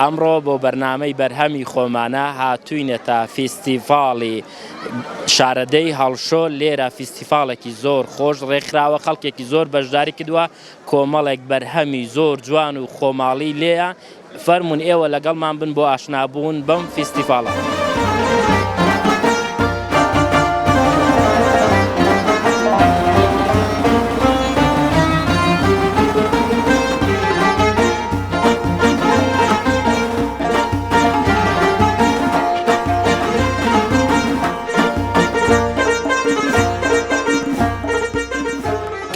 ئەمڕۆ بۆ بەرنامەی بەرهەمی خۆمانە هاتووینەتە فیستیڤاڵی شارەدێی هەڵشۆ لێرە فیستیڤاڵێکی زۆر خۆش ڕێکخراوە خەڵکێکی زۆر بەشداری کردووە کۆمەڵێک بەرهەمی زۆر جوان و خۆماڵی لێیە فەرموون ئێوە لەگەڵمان بن بۆ ئاشنابوون بەم فیستیڤاڵە.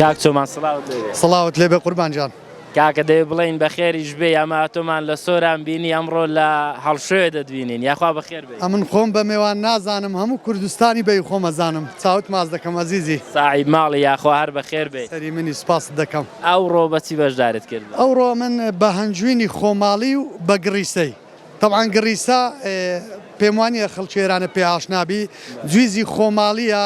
کاک چۆمان سڵاوت لێ بێ. سڵاوت لێ بێ قوربان جان. کاکە دەێ بڵین بەخێریش بێ ئەمە تۆمان لە سۆران بینی ئەمڕۆ لە هەڵشوێ دەدوینین یاخوا بەخێر بێ ئەمن خۆم بە مێوان نازانم هەموو کوردستانی بەی خۆمەزانم چاوت ماز دەکەم ئەزیزی ساعی ماڵی یاخوا هەر بەخێر بێ سەری منی سپاست دەکەم. ئەوڕۆ بە چی بەشداریت کرد؟ ئەوڕۆ من بە هەنجوینی خۆماڵی و بە گڕیسەی تەبعەن گڕیسە پێم وانیە خەڵکی ئێرانە پێ ئاشنا بی جویزی خۆماڵیە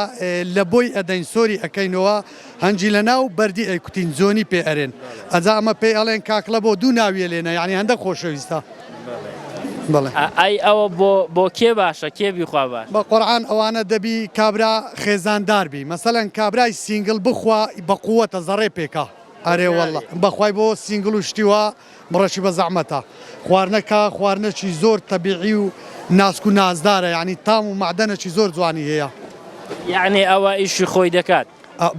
لە بۆی ئەدەین سۆری ئەکەینەوە هەنجی لە ناو بەردی ئەیکوتین جۆنی پێ ئەرێن ئەجا ئەمە پێی ئەڵێن کاکڵە بۆ دوو ناویە لێ نە یانی هەندەک خۆشەویستە. ئای ئەوە بۆ کێ باشە کێ بیخوا باش. بەقورعان ئەوانە دەبی کابرا خێزاندار بی مەسەلەن کابرای سینگل بخوا بەقوەتە زەڕێ پێکا ئەرێ واللە بەخوای بۆ سینگل و شتی وا بڕەشی بەزەحمەتە خواردنەکە خواردنەکی زۆر تەبیعی و ناسک و نازدارە یەعنی تام و مەعدەنەکی زۆر جوانی هەیە یەعنی ئەوە ئیشی خۆی دەکات.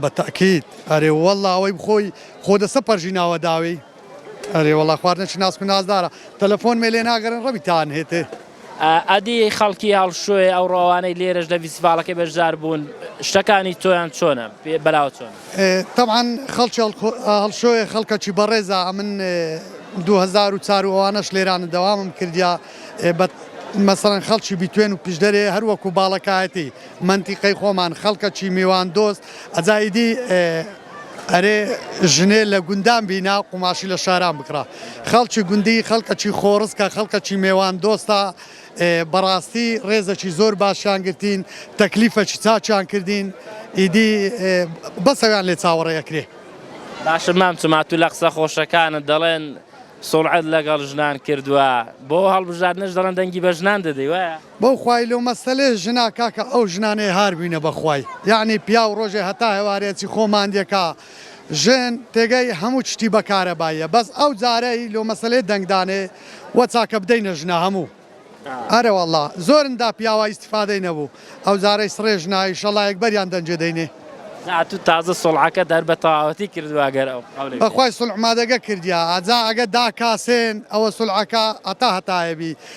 بەتەئکید ئەرێ واللە ئەوەی بخۆی خۆ دەسە پەرژیناوە داوێی. ئەرێ وەڵا خوار نەچی ناسک و نازدارە تەلەفۆنمێ لێ ناگرن ڕەبی تان هێتێ. ئەدی خەڵکی هەڵشۆێ ئەوڕۆ ئەوانەی لێرەش لە ڤیسڤاڵەکەی بەشدار بوون شتەکانی تۆیان چۆنە بەلاوە چۆن؟ تەبعەن خەڵکی هەڵشۆێ خەڵکەکی بەڕێزە ئەمن دوو هەزار و چار و ئەوانەش لێرانە دەوامم کردیا بە مەسەڵەن خەڵکی بیتوێن و پیشدەرێ هەر وەکو باڵەکایەتی مەنتیقەی خۆمان خەڵکەکی میوان دۆست ئەجا ئیدی ئەرێ ژنێ لە گوندان بینا قوماشی لە شاران بکڕە خەڵکی گوندی خەڵکەکی خۆڕسکە خەڵکەکی مێوان دۆستە بەڕاستی ڕێزەکی زۆر باشیان گرتین تەکلیفەکی چاچیان کردین ئیدی بەسەویان لێ چاوەڕێ ئەکرێ باشە مام چماتو لە قسە خۆشەکانت دەڵێن سوڵعەت لەگەڵ ژنان کردووە بۆ هەڵبژاردنەش دەڵێن دەنگی بە ژنان دەدەی وایە؟ بەوخوای لۆ مەسەلێ ژنا کاکە ئەو ژنانەی هار بوینە بەخوای یەعنی پیاو ڕۆژێ هەتا هەوارێ ئەچی خۆ ماندێکا ژن تێگەی هەموو چتی بە کارەباییە بەس ئەو جارەی لۆ مەسەلێ دەنگ دانێ وە چاکە بدەینە ژنا هەموو ئەرەوەڵا زۆرن دا پیاوا ئیستفادەی نەبوو ئەو جارەی سڕێ ژنا ئیشەڵا یەکبەریان دەنجێ دەینێ. ئەتوو تازە سوڵحەکەت هەر بەتەواوەتی کردووە ئەگەر ئەو قەولەی بەخوای سوڵحمادەگە کردیە ئەجا ئەگە داکاسێن ئەوە سوڵحەکە هەتا هەتایە بی.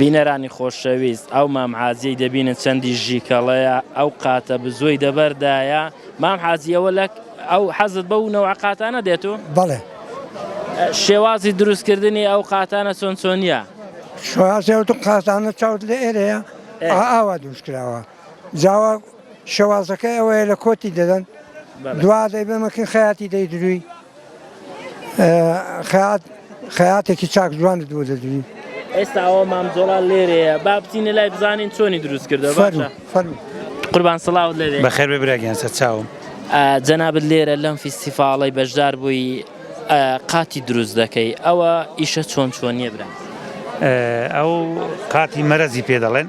بینەرانی خۆشەویست ئەو مام حاجیەی دەبینن چەندی ژیکەڵەیە ئەو قاتە بزۆی دەبەردایە مام حاجیەوە لە ئەو حەزت بە و نەوە قاتانە دێت و بەڵێ شێوازی دروستکردنی ئەو قاتانە چۆن چۆنیە شوازێوت قازانە چاوت لە ئێرەیە ئاوا دروستکراوە جاوا شێوازەکەی ئەوەیە لە کۆتی دەدەن دوا دەی بەمەکن خەیاتی دەی دروی خەات خەاتێکی چاک جوان دوو دەدوی ئێستا ئەوە مام جۆڵا لێرەیە با بچینە لای بزانین چۆنی دروست کردە قوربان سڵاو لێ بەخێر ببراگەیان سەر چاوم جەنابەت لێرە لەم فیستیفاڵی بەشدار بووی قاتی دروست دەکەی ئەوە ئیشە چۆن چۆن نیە برا ئەو قاتی مەرەزی پێ دەڵێن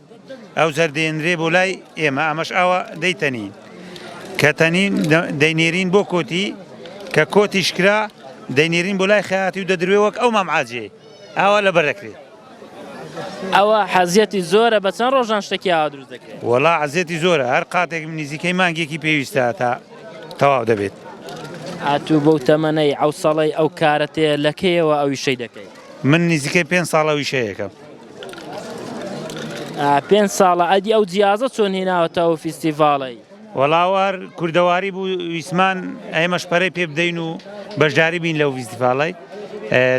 ئەو جار دێنرێ بۆ لای ئێمە ئەمەش ئاوا دەیتەنین کە تەنین دەینێرین بۆ کۆتی کە کۆتیش کرا دەینێرین بۆ لای خەیاتی و دەدروێ وەک ئەو مامعاجێ ئاوا لە بەرەکرێ ئەوە حەزیەتی زۆرە بە چەند ڕۆژان شتێکی ئاوا دروست دەکرێت وەڵا عزیەتی زۆرە هەر قاتێک نزیکەی مانگێکی پێویستە تا تەواو دەبێت ئاتوو بەو تەمەەی ئەو ساڵی ئەو کارەتێ لەکەیەوە ئەویشەی دەکەیت من نزیکەی پێ ساڵەویشەیەەکەم پێنج ساڵە ئەدی ئەو جیازە چۆن هێناوەتەوە فیستیڤاڵی وەڵاوار کوردەواری بوو ویسمان ئێمەش پەرەی پێ بدەین و بەشداری بین لەو فیستیڤاڵی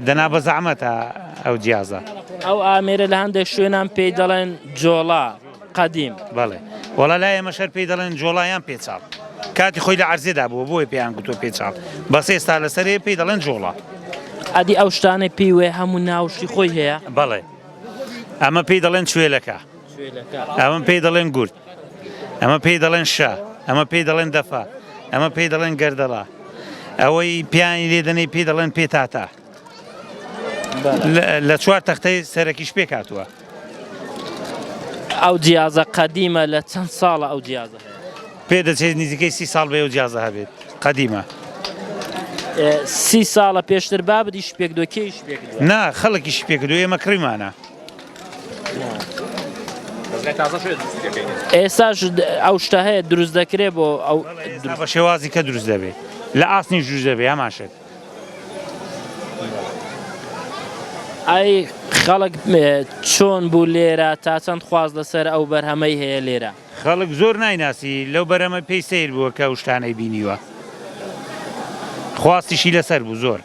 دەنا بە زەعمەتە ئەو جیازە ئەو ئامێرە لە هەندێک شوێنان پێی دەڵێن جۆڵا قەدیم بەڵێ وەڵا لای ئێمە شەر پێی دەڵێن جۆڵا یان پێچاڵ کاتی خۆی لە عەرزێدا بووە بۆی پێیان گوتوە پێچاڵ بەس ئێستا لەسەرێ پێی دەڵێن جۆڵا ئەدی ئەو شتانەی پێی وێ هەموو ناوشی خۆی هەیە بەڵێ ئەمە پێی دەڵێن کوێلەکە ئەمە پێی دەڵێن گورد ئەمە پێی دەڵێن شە ئەمە پێی دەڵێن دەفا ئەمە پێی دەڵێن گەردەڵا ئەوەی پیانی لێدەنەی پێی دەڵێن پێ تاتا لە چوار تەختەی سەرەکیش پێک هاتووە. ئەو جیازە قەدیمە لە چەند ساڵە ئەو جیازە هەیە؟ پێ دەچێت نزیکەی سی ساڵ بێ و جیازە هەبێت قەدیمە. سی ساڵە پێشتر بابدیش پێک دۆکێش پێک نا خەڵکیش پێک دو ئێمە کڕیمانە. ئێساش ئەو شتە هەیە دروست دەکرێت بۆ ئەو بە شێوازی کە دروست دەبێت لە ئاسنی ژوش دەبێ هەماشێت. ئای خەڵک چۆن بوو لێرە؟ تا چەند خواست لەسەر ئەو بەرهەمەی هەیە لێرە؟ خەڵک زۆر نایناسی لەو بەرەمە پێی سەیر بووە کە ئەو شتانەی بینیوە خواستیشی لەسەر بوو زۆر.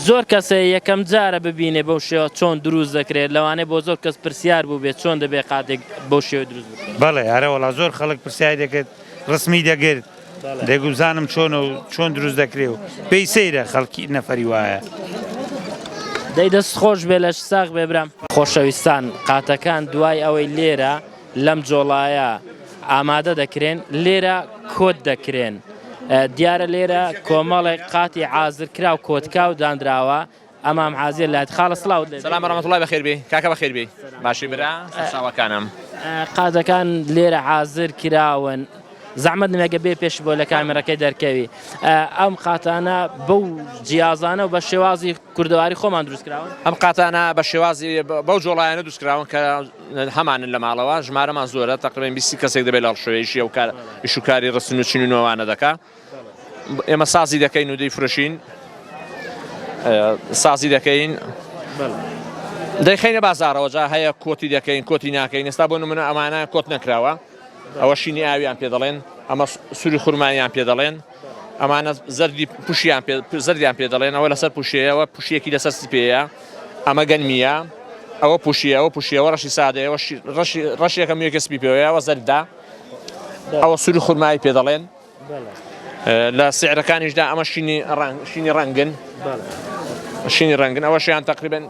زۆر کەسێ یەکەم جارە ببینێ بەو شێوە چۆن دروست دەکرێت لەوانەیە بۆ زۆر کەس پرسیار بووبێت چۆن دەبێت قاتێک بەو شێوە دروست بکرێت؟ بەڵێ ئەرەوەڵا زۆر خەڵک پرسیاری دەکرد ڕسمی دەگرت. دەگو بزانم چۆنە و چۆن دروست دەکرێ و پێی سەیرە خەڵکی نەفەری وایە. دەی دەست خۆش بێ لەش ساغ بێ برام. خۆشەویستان قاتەکان دوای ئەوەی لێرە لەم جۆڵایە ئامادە دەکرێن لێرە کۆت دەکرێن دیارە لێرە کۆمەڵێک قاتی عازرکراو کۆتکاو دانراوە ئەمام عازێ لات خاڵە سڵاوت لێ سلام ورحمة اللە بەخێر بێی کاکە بەخێر بێی باشی برا سەرچاوەکانم قازەکان لێرە عازر کراون زەحمەت نمێگە بێ پێش بۆ لە کامێرەکەی دەرکەوی ئەم قاتانە بەو جیازانە و بە شێوازی کوردەواری خۆمان دروستکراون ئەم قاتانە بە شێوازی بەو جۆڵایەنە دروستکراون کە هەمانن لە ماڵەوە ژمارەمان زۆرە تقریبا بیسی کەسێک دەبێت لە ڕشوەیەشی ئەو کار ئیشوکاری ڕستن و چین و نوێوانە دەکات ئێمە سازی دەکەین و دەیفرۆشین سازی دەکەین دەیخینە بازارەوە جا هەیە کۆتی دەکەین کۆتی ناکەین ئێستا بۆ نمونە ئەمانە کۆت نەکراوە ئەوە شینی ئاویان پێ دەڵێن ئەمە سووری خورمانیان پێ دەڵێن ئەمانە زەردی پوشیان زەردیان پێ دەڵێن ئەوە لەسەر پوشەیەوە پوشیەکی لەسەر سپەیە ئەمە گەنمیە ئەوە پوشیەوە پوشیەوە ڕەشی سادەیەوە ڕەشێکە میێکە سپی پێوەیەوە زەردا ئەوە سووری خورمایی پێ دەڵێن لە سعرەکانیشدا ئەمە شینی ڕەنگ شینی ڕەنگن شینی ڕەنگن ئەوە شیان تقریبن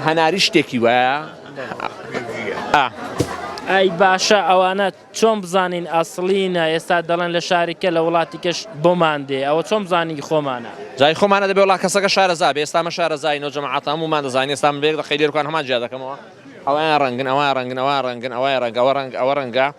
هەناری شتێکی وایە ئای باشە ئەوانە چۆن بزانین ئەسڵینە ئێستا دەڵێن لە شارێکە لە وڵاتی کەش بۆمان دێ ئەوە چۆن بزانانی خۆمانە جای خۆمانە دەبێ وڵا کەسەکە شارەزا بێ ئێستامە شارەزای نۆ جەماعاتام ومان دەزانانی ئێستام بێک دەقی لێرکان هەمان جیا دەکەمەوە ئەویان ڕەنگن ئەوە ڕەنگنەوە ڕەنگن ئەوە ڕەنگەوە ڕەنگ ئەوە ڕەنگە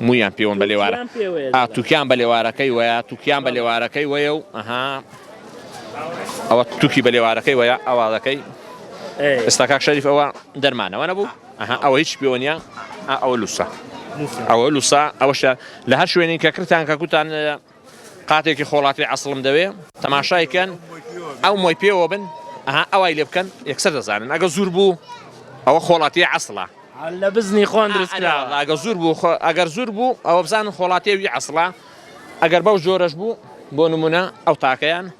موویان پێوەن بە لێوارە تووکیان پێ وەیە ئا تووکیان بە لێوارەکەی وەیە تووکیان بە لێوارەکەی وەیە و ئەها ئەوە تووکی بە لێوارەکەی وەیە ئەوە دەکەی ئەی ئێستا کاک شەریف ئەوە دەرمان ئەوە نەبوو ئەها ئەوە هیچ پێوە نییە ئا ئەوە لووسە نووسە ئەوە لووسە ئەوەشە لە هەر شوێنێک کە کردتان کە گوتان قاتێکی خۆڵاتی عەسڵم دەوێ. تەماشای کەن ئەو مۆی پێوە بن ئەها ئەوای لێ بکەن یەکسەر دەزانن ئەگە زور بوو ئەوە خۆڵاتیە عەسڵە. لە بزنی خۆان دروست کراوە. ئەرێ وەڵا ئەگەر زور بوو خۆ ئەگەر زور بوو ئەوە بزانن خۆڵاتیە وی عەسڵە ئەگەر بەو جۆرەش بوو بۆ نمونە ئەو تاکەیان.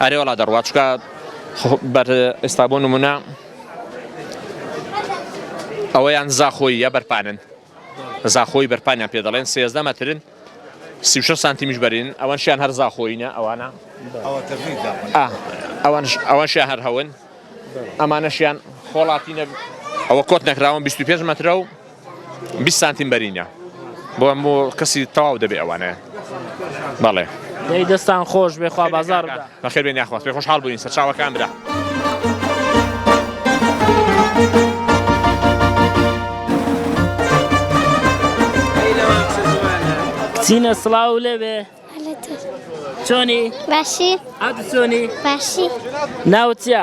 ئەرێ وەڵا دەڕوات چکە بەر ئێستا بۆ نمونە ئەوەیان زاخۆی یا بەرپانن زاخۆی بەرپانیان پێ دەڵێن سێزدە مەترن سی سانتیمیش بەرین ئەوەنشیان هەر زاخۆینە ئەوانە ئەوەنشیان هەر هەون ئەمانەشیان خۆڵاتی نەبوو ئەوە کۆت نەکراون 25 مەترە و بیست سانتیم بەرینە بۆ هەموو کەسی تەواو دەبێ ئەوانە بەڵێ دەی دەستان خۆش بێ خوا بازار بەخێر بێن یاخواست پێ خۆشحاڵ بووین سەرچاوەکان برا. چینە سڵاو لەوێ چۆنی باشی ئەت چۆنی باشی ناوچە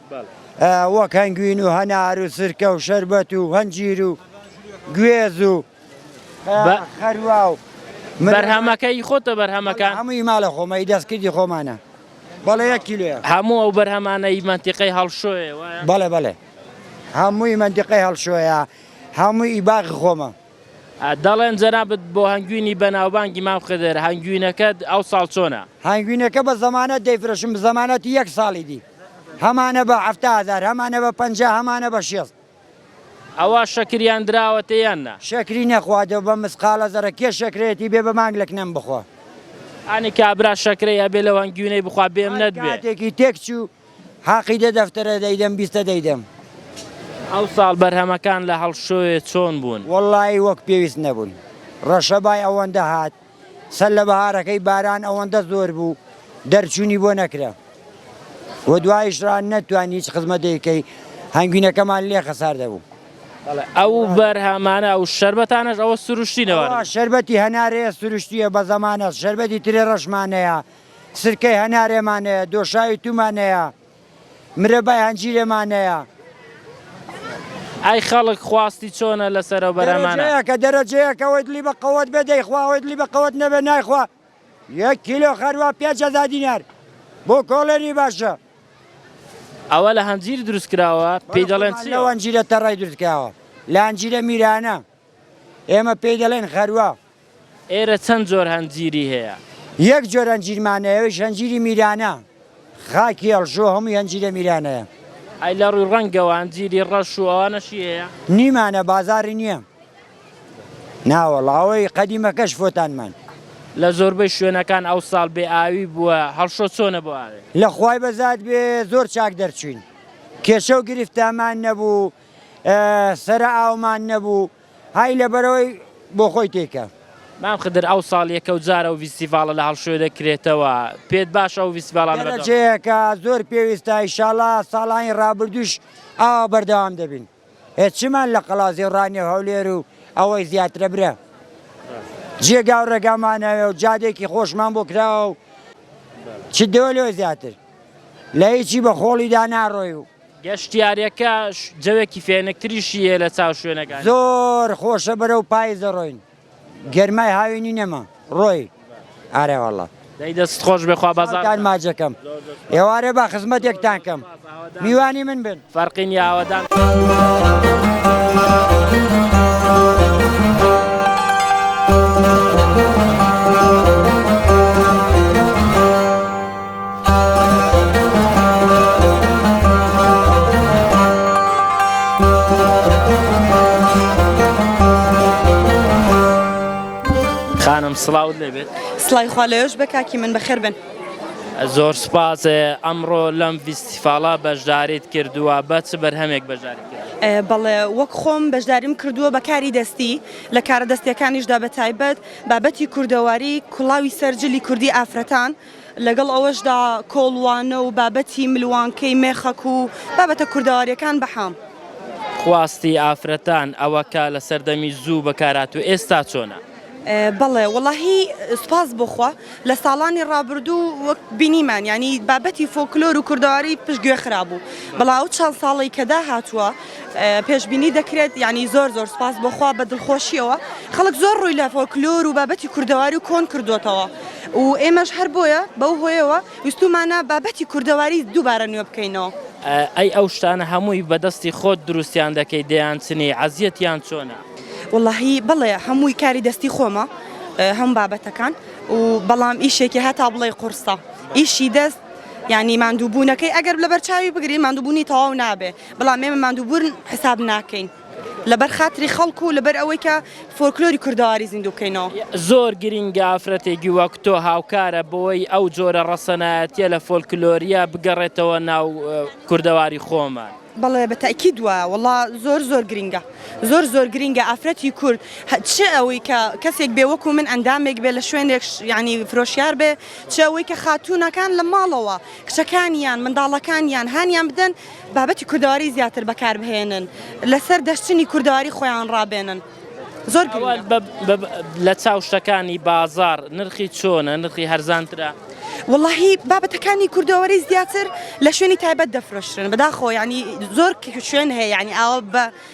وەک هەنگوین و هەنار و سرکە و شەربەت و هەنجیر و گوێز و خەروا و بەرهەمەکەی خۆتە بەرهەمەکان هەمووی ماڵە خۆمەی دەستکردی خۆمانە بەڵێ یەک کیلوێ هەموو ئەو بەرهەمانەی مەنتیقەی هەڵشۆێ بەڵێ بەڵێ هەمووی مەنتیقەی هەڵشۆیە هەمووی ئیباغ خۆمە دەڵێن جەنابەت بۆ هەنگوینی بەناوبانگی مام خدر هەنگوینەکەت ئەو ساڵ چۆنە هەنگوینەکە بە زەمانەت دەیفرۆشم زەمانەتی یەک ساڵی دی هەمانە بە حەفتا هەزار هەمانە بە پەنجا هەمانە بە شێست. ئەوە شەکریان دراوەتێ یان نا؟ شەکری نەخوا دە بە مسقالە زەڕە کێ شەکرەیەتی بێ بە مانگ لە کنەم بخوا. ئانی کابرا شەکرەی ئەبێ لەو هەنگوینەی بخوا بێ منەت بێ. هەر کاتێکی تێک چوو حاقی دە دەفتەرە دەیدەم بیستە دەیدەم. ئەو ساڵ بەرهەمەکان لە هەڵشۆێ چۆن بوون؟ وەڵایی وەک پێویست نەبوون ڕەشەبای ئەوەندە هات. سەر لە بەهارەکەی باران ئەوەندە زۆر بوو دەرچوونی بۆ نەکرا و دوایش را نەتوانی هیچ خزمەتێک کەی هەنگوینەکەمان لێ خەسار دەبوو. ئەو بەرهەمانە ئەو شەربەتانەش ئەوە سروشتینەوە شەربەتی هەنارەیە سروشتیە بە زەمانە شەربەتی ترێ ڕەشمانەیە سرکەی هەنارێمانەیە دۆشاوی تومانەیە مرەبای هەنجیرێ ما نەیا. ئەی خەڵک خواستی چۆنە لەسەر ئەو بەرهەمانە؟ دەرەجەیەکە دەرەجەیەکە وەی دلی بە قەوەت بێ دەیخوا وەی دلی بە قەوەت نەبێ نایخوا یەک کیلۆ خەروە پێنج هەزار دینار بۆ کۆڵێنی باشە. ئەوە لە هەنجیر دروست کراوە پێی دەڵێن چی؟ بەڵکومان لەو هەنجیرە تەڕەی دروست کراوە لە هەنجیرە میرانە. ئێمە پێی دەڵێن غەروە. ئێرە چەند جۆر هەنجیری هەیە؟ یەک جۆر هەنجیرمان هەیە ئەویش هەنجیری میرانە، خاکی هەڵشۆ هەمووی هەنجیرە میرانەیە. ئەی لە ڕووی ڕەنگەوە هەنجیری ڕەش و ئەوانەشی هەیە؟ نیمانە بازاڕی نییە. ناوەڵڵا ئەوەی قەدیمەکەش فۆتانمان. لە زۆربەی شوێنەکان ئەوساڵ بێ ئاوی بووە، هەڵشۆ چۆنە بۆ ئاوێ؟ لە خوای بەزاد بێ زۆر چاک دەرچووین، کێشە و گرفتامان نەبوو. سەرە ئاومان نەبوو های لەبەرەوەی بۆخۆی تێکە. مام خدر ئەو ساڵ یەکەو جار ئەو ڤیستیڤاڵە لە هەڵشوێ دەکرێتەوە پێت باشە ئەو ڤیستیڤاڵانە بەردەوام بن؟ دەرەجەیەکە زۆر پێویستە ئیشاڵا ساڵانی ڕابردووش ئاوا بەردەوام دەبین ئێ چمان لە قەڵازی و ڕانیەو هەولێر و ئەوەی زیاترە برا جێگاو ڕێگامان هەیە و جادەیەکی خۆشمان بۆ کراوە و چ دەوێ لەوێ زیاتر لە هیچی بە خۆڵیدا ناڕۆی و گەشتیارەکە جەوێکی فێنکتریشی هەیە لە چاو شوێنەکانی. زۆر خۆشە بەرەو پایز دەڕۆین گەرمای هاوینی نەما ڕۆی ئارە واللە. دەی دەستت خۆش بێ خوا بەزارتان. ساڵتان ماجەکەم ئێوارێ با خزمەتێکتان کەم میوانی من بن. فەرقی نیە ئاوەدان. خانم سڵاوت لێبێت سڵای خوا لەوێش بە کاکی من بەخێر بن زۆر سپاس ئەمڕۆ لەم فیستیفاڵا بەشداریت کردووە بە چ بەرهەمێک بەشداری بەڵێ وەک خۆم بەشداریم کردووە بە کاری دەستی لە کارە دەستەکانیشدا بە تایبەت بابەتی کوردەواری کوڵاوی سەررجلی کوردی ئافرەتان لەگەڵ ئەوەشدا کۆڵوانە و بابەتی ملوانکەی مێخەک و بابەتە کوردەوارییەکان بەحام. خواستی ئافرەتان، ئەوە کە لە سەردەمی زوو بەکارهاتوو ئێستا چۆنە؟ بەڵێ وەڵاهی سوپاس بۆ خوا لە ساڵانی ڕابردوو وەک بینیمان یانی بابەتی فۆکلۆر و کوردەواری پشت گوێ خرابوو بەڵام ئەو چەند ساڵەی کە داهاتووە پێشبینی دەکرێت یعنی زۆر زۆر سپاس بۆخوا بە دڵخۆشیەوە خەڵک زۆر ڕووی لە فۆکلۆر و بابەتی کوردەواری و کۆن کردوتەوە و ئێمەش هەر بۆیە بەو هۆیەوە ویستومانە بابەتی کوردەواری دووبارە نوێ بکەینەوە ئەی ئەو شتانە هەمووی بەدەستی خۆت دروستیان دەکەی دەیان چنی عزیەتیان چۆنە واللهی بڵێ هەمووی کاری دەستی خۆمە هەم بابەتەکان و بەڵام ئیشێکی هەتا بڵێ قورسە ئیشی دەست ینی مادووبوونەکەی ئەگەر لە بەرچاوی بگرین مادووبوونی تەواو نابێ بەڵام ئێمە ماندووبوون حساب ناکەین لەبەر خاتری خەڵک و لەبەر ئەوەی کە فۆرکلۆری کوردەواری زیندوو بکەینەوە. زۆر گرینگە ئافرەتێکی وەک تۆ هاوکارە بۆی ئەو جۆرە ڕەسەنایەتیە لە فۆلکلۆریە بگەڕێتەوە ناو کوردەواری خۆمان. بەڵێ بە تەئکید وایە وەڵا زۆر زۆر گرینگە زۆر زۆر گرینگە ئافرەتی کورد چ ئەوەی کە کەسێک بێ وەکو من ئەندامێک بێ لە شوێنێک ینی فرۆشیار بێ چ ئەوەی کە خاتوونەکان لە ماڵەوە کچەکانیان منداڵەکانیان هانیان بدەن بابەتی کوردەواری زیاتر بەکاربهێنن لەسەر دەشتنی کوردەواری خۆیان ڕابێنن زۆر لە چاو شتەکانی بازار نرخی چۆنە نرخی هەرزانترە واللهی بابەتەکانی کوردەوەری زیاتر لە شوێنی تایبەت دەفرۆشتن بەداخۆ ینی زۆر شوێن هەیە ینی ئاوە بە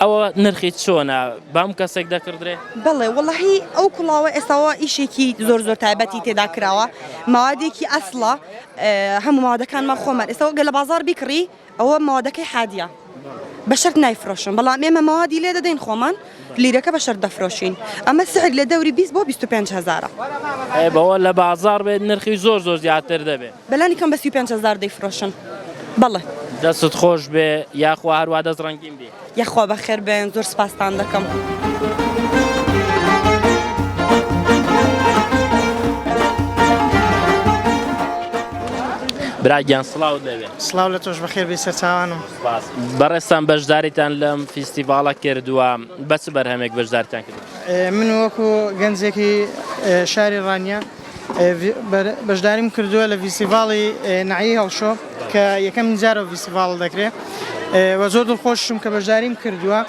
ئەوە نرخی چۆنە بام کەسێک دەکردێ؟ بەڵێ وڵی ئەو کوڵاوە ئێستاوە ئیشێکی زۆر زۆر تایبەتی تێدا کراوە ماوادێکی ئەسڵە هەموو ماوادەکانمان خۆمان ئێستاەوە گە لە بازار بیکڕی ئەوە ماوادەکەی حادە بە شەر نایفرۆشن بەڵام ئێمە ماوادی لێ دەدەین خۆمان لیرەکە بە شەر دەفرۆشین ئەمە سعر لە دەوری 20 بۆ 25 هزارە بەوە لە بازار بێت نرخی زۆر زۆر زیاتر دەبێت بەلانی کەم بە سی و پێنج هەزار دەیفرۆشن بەڵێ. دەستت خۆش بێ یاخوا هەروا دەست ڕەنگین بی. یەخوا بەخێر بێن زۆر سپاستان دەکەم. برا گیان سڵاوت لێبێ سڵاو لە تۆش بەخێر بێ سەرچوانم بەڕێستان بەشداریتان لەم فیستیڤاڵە کردووە بەچ بەرهەمێک بەشدارتان کرد من وەکو گەنجێکی شاری ڕانیە بەشداریم کردووە لە ڤیستیڤاڵی نەعیی هەڵشۆ کە یەکەمین جارە ئەو ڤیستیڤاڵە دەکرێ و زۆر دڵخۆشم کە بەشداریم کردووە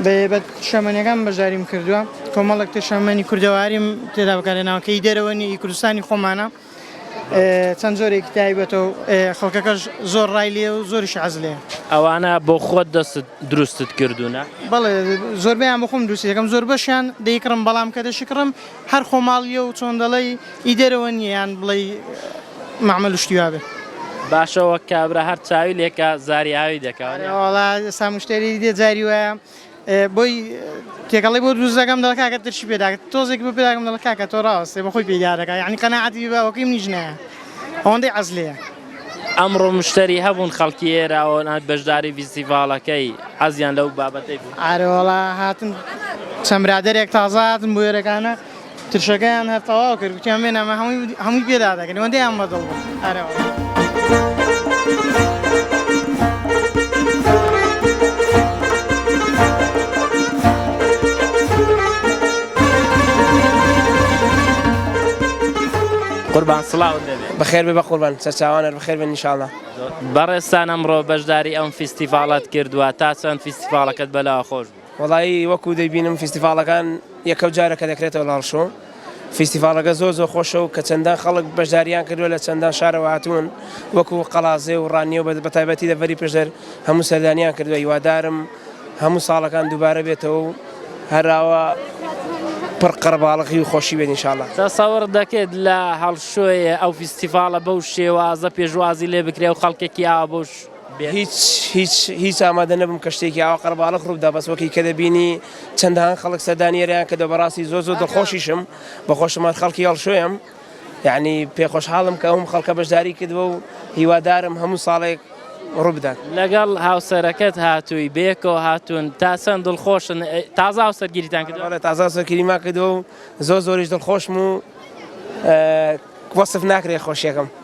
بەێبەت شەمەنیەکان بەشداریم کردووە کۆمەڵک تر شەمەنی کوردەواریم تێدا بەکارێناوە کە ئی دەرەوە نیە ئی کوردستانی خۆمانە چەند جۆرێکی تایبەتە و خەڵکەکەش زۆر ڕای لێ و زۆریش حەز لێ ئەوانە بۆ خۆت دەستت دروستت کردوونە؟ بەڵێ زۆربەیان بۆ خۆم دروستی دەکەم زۆر بەشیان دەیکڕم بەڵام کە دەشیکڕم هەر خۆماڵیە و چۆن دەڵێی ئی دەرەوە نیە یان بڵێی مەعمەل و شتی وابێ. باشە وەک کابرا هەر چاوی لێکا زاری ئاوی دەکا. ئەرێ وەڵا ئێستا مشتەری دیدێ جاری وایە بۆی تێکەڵی بۆ دروست دەکەم دەڵێ کاکە ترشی پێ داکە تۆزێکی بۆ پێ داکەم دەڵێ کاکە تۆ ڕاوەستێ بەخۆی پێی دادەکا یەعنی قەناعەتی بە وەک منیش نایە ئەوەندەی عەز لێیە. ئەمڕۆ مشتەری هەبوون خەڵکی ئێرە و نەهات بەشداری ڤیستیڤاڵەکەی حەزیان لەو بابەتەی بوو. ئارە وەڵا هاتن چەند برادەرێک تازە هاتن بۆ ئێرەکانە ترشەکەیان هەر تەواو کرد گوتیان بێن ئەمە هەمووی هەمووی پێ دادەکەین ئەوەندەیان بە دڵ بوو ئارە وەڵا. قوربان سڵاوت لێبێ. بەخێر بێ بەقوربان سەرچاوانەر بەخێر بێن انشااللە. بەڕێزتان ئەمڕۆ بەشداری ئەم فیستیڤاڵەت کردووە تا چەند فیستیڤاڵەکەت بەلاوە خۆش بوو؟ وەڵایی وەکو دەیبینم فیستیڤاڵەکان یەکەو جارە کە دەکرێتەوە لە ڕشۆ فیستیڤاڵەکە زۆر زۆر خۆشە و کە چەندان خەڵک بەشداریان کردووە لە چەندان شارەوە هاتوون وەکو قەڵازێ و ڕانیە و بەتایبەتی دەڤەری پشدەر هەموو سەردانیان کردووە هیوادارم هەموو ساڵەکان دووبارە بێتەوە و هەراوا پڕ قەرباڵغی و خۆشی بێت انشاءاللە. تەسەور دەکەیت لە هەڵشۆێ ئەو فیستیڤاڵە بەو شێوازە پێشوازی لێ بکرێ و خەڵکێکی ئاوا بەوش بێت؟ هیچ هیچ هیچ ئامادە نەبووم کە شتێکی ئاوا قەرباڵغ ڕوو بدا بەس وەکی کە دەبینی چەندان خەڵک سەردانی ئێرەیان کردوە بەڕاستی زۆر زۆر دڵخۆشیشم بە خۆشم هەر خەڵکی هەڵشۆێم. یەعنی پێ خۆشحاڵم کە ئەوم خەڵکە بەشداری کردوە و هیوادارم هەموو ساڵێک ڕووبدات. لەگەڵ هاوسەرەکەت هاتووی؟ بەیەکەوە هاتوون. تا چەند دڵخۆشن؟ تازە هاوسەرگیریتان کردووە؟ بەڵێ تازە هاوسەرگیریمان کردووە و زۆر زۆریش دڵخۆشم و وەسف ناکرێت خۆشییەکەم.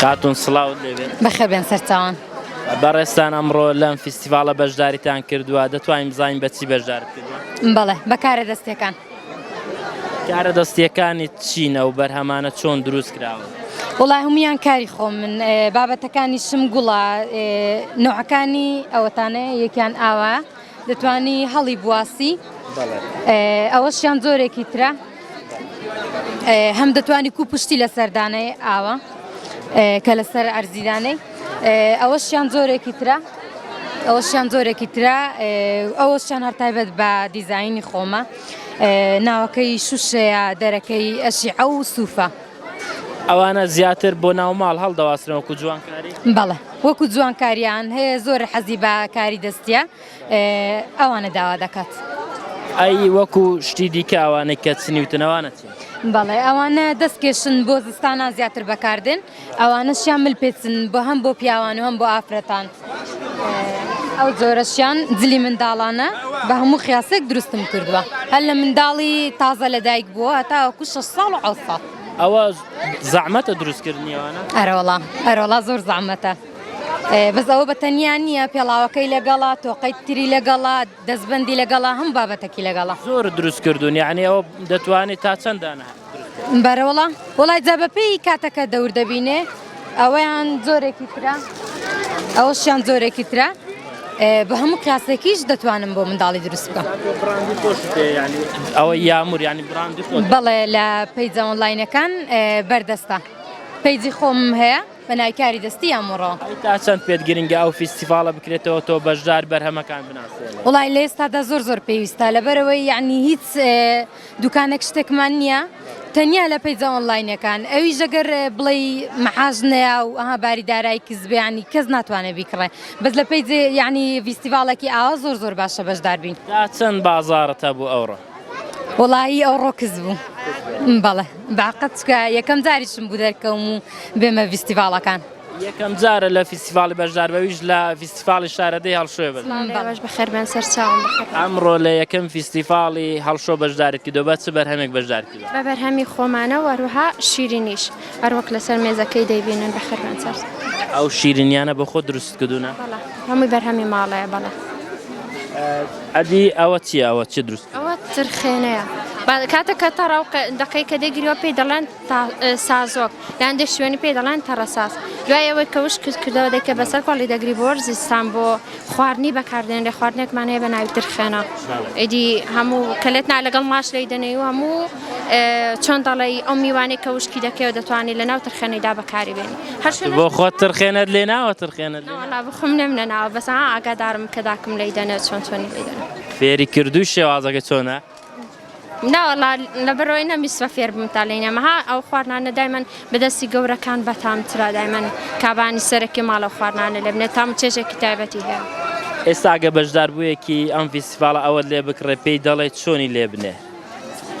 خاتون سڵاوت لێبێت بەخێر بێن سەرچوان بەڕێستان ئەمڕۆ لەم فیستیڤالە بەشداریتان کردووە دەتوانین بزانین بەچی بەشدار بەڵێ بەکارە دەستەکان کارە دەستیەکانت چین ئەو بەرهەمانە چۆن دروست کراون؟ وڵا هەمویان کاری خۆ من بابەتەکانی شم گوڵا نوعەکانی ئەوەتانە یەکیان ئاوا دەتانی هەڵی بواسی ئەوەشیان زۆرێکی ترە هەم دەتوانی کو پشتی لە سەردانەی ئاوە کە لەسەر ئەرزیدانەی ئەوەشیان جۆرێکی ترە ئەوەشیان جۆرێکی ترە ئەوەشیان هەر تایبەت بە دیزایینی خۆمە ناوەکەی شوشەیە دەرەکەی ئەشی ئەو سوفە ئەوانە زیاتر بۆ ناوماڵ هەڵدەواسرن وەکو جوانکاری بەڵێ وەکو جوانکاریان هەیە زۆر حەزی بە کاری دەستە ئەوانە داوا دەکات. ئەی وەکو شتی دیکە ئەوانەی کە چنیوتنەوانەتی بەڵێ ئەوانە دەستکێشن بۆ زستانان زیاتر بەکاردێن ئەوانە شیان مل پێچن بۆ هەم بۆ پیاوان و هەم بۆ ئافرەتان ئەو جۆرەشیان جلی منداڵانە بە هەموو خیاسێک دروستم کردووە هەر لە منداڵی تازە لە دایک بووە تاوەکو شە ساڵ و ئەوسا ئەوە زەعمەتە دروستکردنیەوەە ئەرەوەڵا ئەرۆڵا زۆر زەعمەتە بەس ئەوە بە تەنیا نییە پێڵاوەکەی لەگەڵا تۆقەی تری لەگەڵا دەستبەندی لەگەڵە هەموو بابەتەکی لەگەڵە. زۆر دروست کردون یانی ئەوە دەتوانێ تا چەند دانە دروست کەی. بەرە وەڵا وەڵای جا بەپێی کاتەکە دەور دەبینێ ئەوەیان زۆرێکی ترە ئەوەشیان زۆرێکی ترە بە هەموو کاسێکیش دەتوانم بۆ منداڵی دروست بکەم ئەوە یامور ینی بڕاندی بەڵێ لە پەیجەوەن لاینەکان بەردەستە پەیجی خۆم هەیە. پەنای کاری دەستی ئەمڕۆ. ئەی تا چەند پێت گرنگە ئەو فیستیڤاڵە بکرێتەوە تۆ بەشدار بەرهەمەکان بناسێنی؟ وەڵای لە ئێستادا زۆر زۆر پێویستە لەبەرەوەی یەعنی هیچ دوکانێک شتێکمان نییە تەنیا لە پەیجە ئۆنلاینەکان ئەویش ئەگەر بڵێی مەحاز نەیا و ئەها باری دارای کزبیانی کەس ناتوانێت بیکڕێ بەس لە پەیجێ یەعنی فیستیڤاڵێکی ئاوا زۆر زۆر باشە بەشدار بین. تا چەند بازاڕت هەبوو ئەوڕۆ؟ وەڵایی ئەوڕۆ کز بوو بەڵێ باقەت چکە یەکەم جاریشم بوو دەرکەوم و بێمە ڤیستیڤاڵەکان یەکەم جارە لە فیستیڤاڵی بەشدار بەویش لە فیستیڤاڵی شارەدەی هەڵشوێ بن باش بەخێربێن سەر چاوم ئەمڕۆ لە یەکەم فیستیڤاڵی هەڵشۆ بەشدارت کردو بە چ بەرهەمێک بەشدار کردوە بە بەرهەمی خۆمانە وەروها شیرینیش هەروەک لەسەر مێزەکەی دەیبینن بەخێر بێن سەر. ئەو شیرینیانە بۆ خۆت دروستت کردوونە؟ بەڵێ هەمووی بەرهەمی ماڵەیە بەڵێ. ئەدی ئەوە چییە ئەوە چیت دروست کردووە؟ ئەوە ترخێنەیە بە کاتێک کە تەڕە و دەقەی کە دەیگریەوە پێی دەڵێن سازۆک یان دێ شوێنی پێی دەڵێن تەڕەساز دوای ئەوەی کە وشک کردەوە دەیکە بەسەر کۆڵی دەگری بۆ وەرزی ستان بۆ خواردنی بەکاردێنرێ خواردنێکمان هەیە بە ناوی ترخێنە ئیدی هەموو کە لێت نا لەگەڵ ماش لێی دەنێی و هەموو چۆن دەڵێی ئەو میوانەی کە وشکی دەکەیەوە دەتوانانی لە ناو ترخێنەیدا بەکاری بێنی هەر بۆ خۆت ترخێنەت لێ ناوە ترخێنە بخم نەم نەناوە بەس ئاگادارم کە داکم لی دەنێ چۆن چۆنی لێ دەنێ فێری کردووی شێوازەکە چۆنە ناوەڵا لەبەرەوەی نەمیسوە فێر بم تا لێ نەمەها ئەو خواردنانە دایمەن بەدەستی گەورەکان بەتامترا دایمەن کابانی سەرەکی ماڵە خواردنانە لێ بنێت تام چێژێکی تایبەتی هەیە ئێستاگە بەشدار بوویەکی ئەم فیسیفاڵە ئەوەت لێ بکڕێ پێی دەڵێ چۆنی لێ بنێ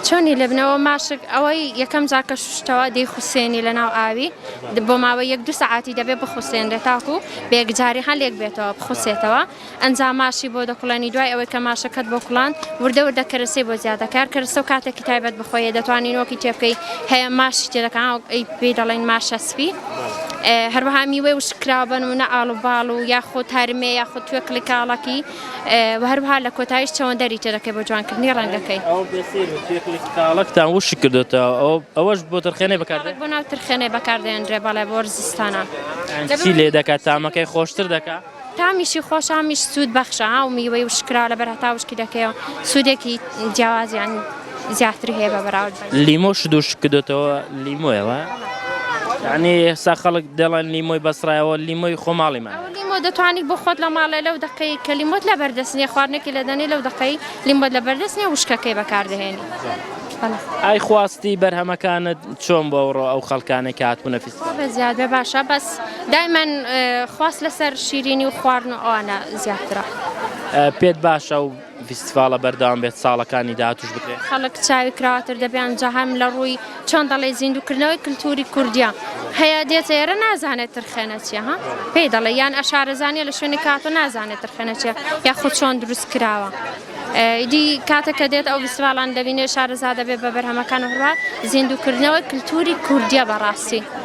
چۆنی لەبنەوە ماشک ئەوەی یەکەم جار کە شوشتەوە دەیخوسێنی لەناو ئاوی بۆ ماوەی یەک دوو سەعاتی دەبێ بخوسێنرێ تاکو بە یەکجاری هەن لێک بێتەوە بخوسێتەوە ئەنجا ماشی بۆ دەکوڵێنی دوای ئەوەی کە ماشەکەت بۆ کوڵاند وردە وردە کەرەسەی بۆ زیاد دەکەی هەر کەرەسە و کاتێکی تایبەت بە خۆیە دەتوانی نۆکی تێ بکەی هەیە ماشی تێ دەکا ئەی پێی دەڵێن ماشە سپی هەروەها میوەی وشککراوە بە نموونە ئاڵوباڵ و یاخود هەرمێ یاخود توێکڵی کاڵەکی و هەروەها لە کۆتاییش چەوەندەری تێ دەکەی بۆ جوانکردنی ڕەنگەکەی. ئەو بەسیر و تێکلی تاڵەکتان وشک کردۆتەوە ئەو ئەوەش بۆ ترخێنەی بەکار دێ؟ تاڵەک بۆ ناو ترخێنەی بەکار دێنرێ بەڵێ بۆ ڕزستانە. یانی چی لێ دەکا تامەکەی خۆشتر دەکا؟ تامیشی خۆش هامیش سوود بەخشە ها و میوەی وشک کراوە لەبەر هەتا وشکی دەکەیەوە سوودێکی جیاوازیان. زیاتر هەیە بە بەراورد بە لیمۆ شدوش کردۆتەوە لیمۆیەوە یعنی ئێستا خەڵک دەڵێن لیمۆی بەسڕایەوە لیمۆی خۆماڵیمان لیمۆ دەتوانانی بۆ خۆت لە ماڵێ لەو دقەی کە لیمۆت لە بەردەستنیە خواردنێکی لە دەنێ لەو دقەی لیمۆت لە بەردەستنیە وشکەکەی بەکاردەهێنی ئای خواستی بەرهەمەکانت چۆن بۆ ئەوڕۆ ئەو خەڵکانێک کاتبوونە فیست زیاد بە باشە بەس دایمەن خواست لەسەر شیرینی و خواردن و ئەوانە زیاترە پێت باشە و فیستیڤاڵە بەردەوام بێت ساڵەکانی داهاتوش بکرێت. خەڵک چاوی کراوەتر دەبێن جا هەم لە ڕووی چۆن دەڵێی زیندوو کردنەوەی کلتوری کوردیە هەیە دێتە ئێرە نازانێت ترخێنە چیە ها پێی دەڵێ یان ئەشارەزانیە لە شوێنی کاتۆ نازانێت ترخێنە چیە یاخود چۆن دروست کراوە ئیدی کاتە کە دێت ئەو فیستیڤاڵان دەبینێ شارەزا دەبێت بە بەرهەمەکان و هەروە زیندوو کردنەوەی کلتوری کوردیە بەڕاستی.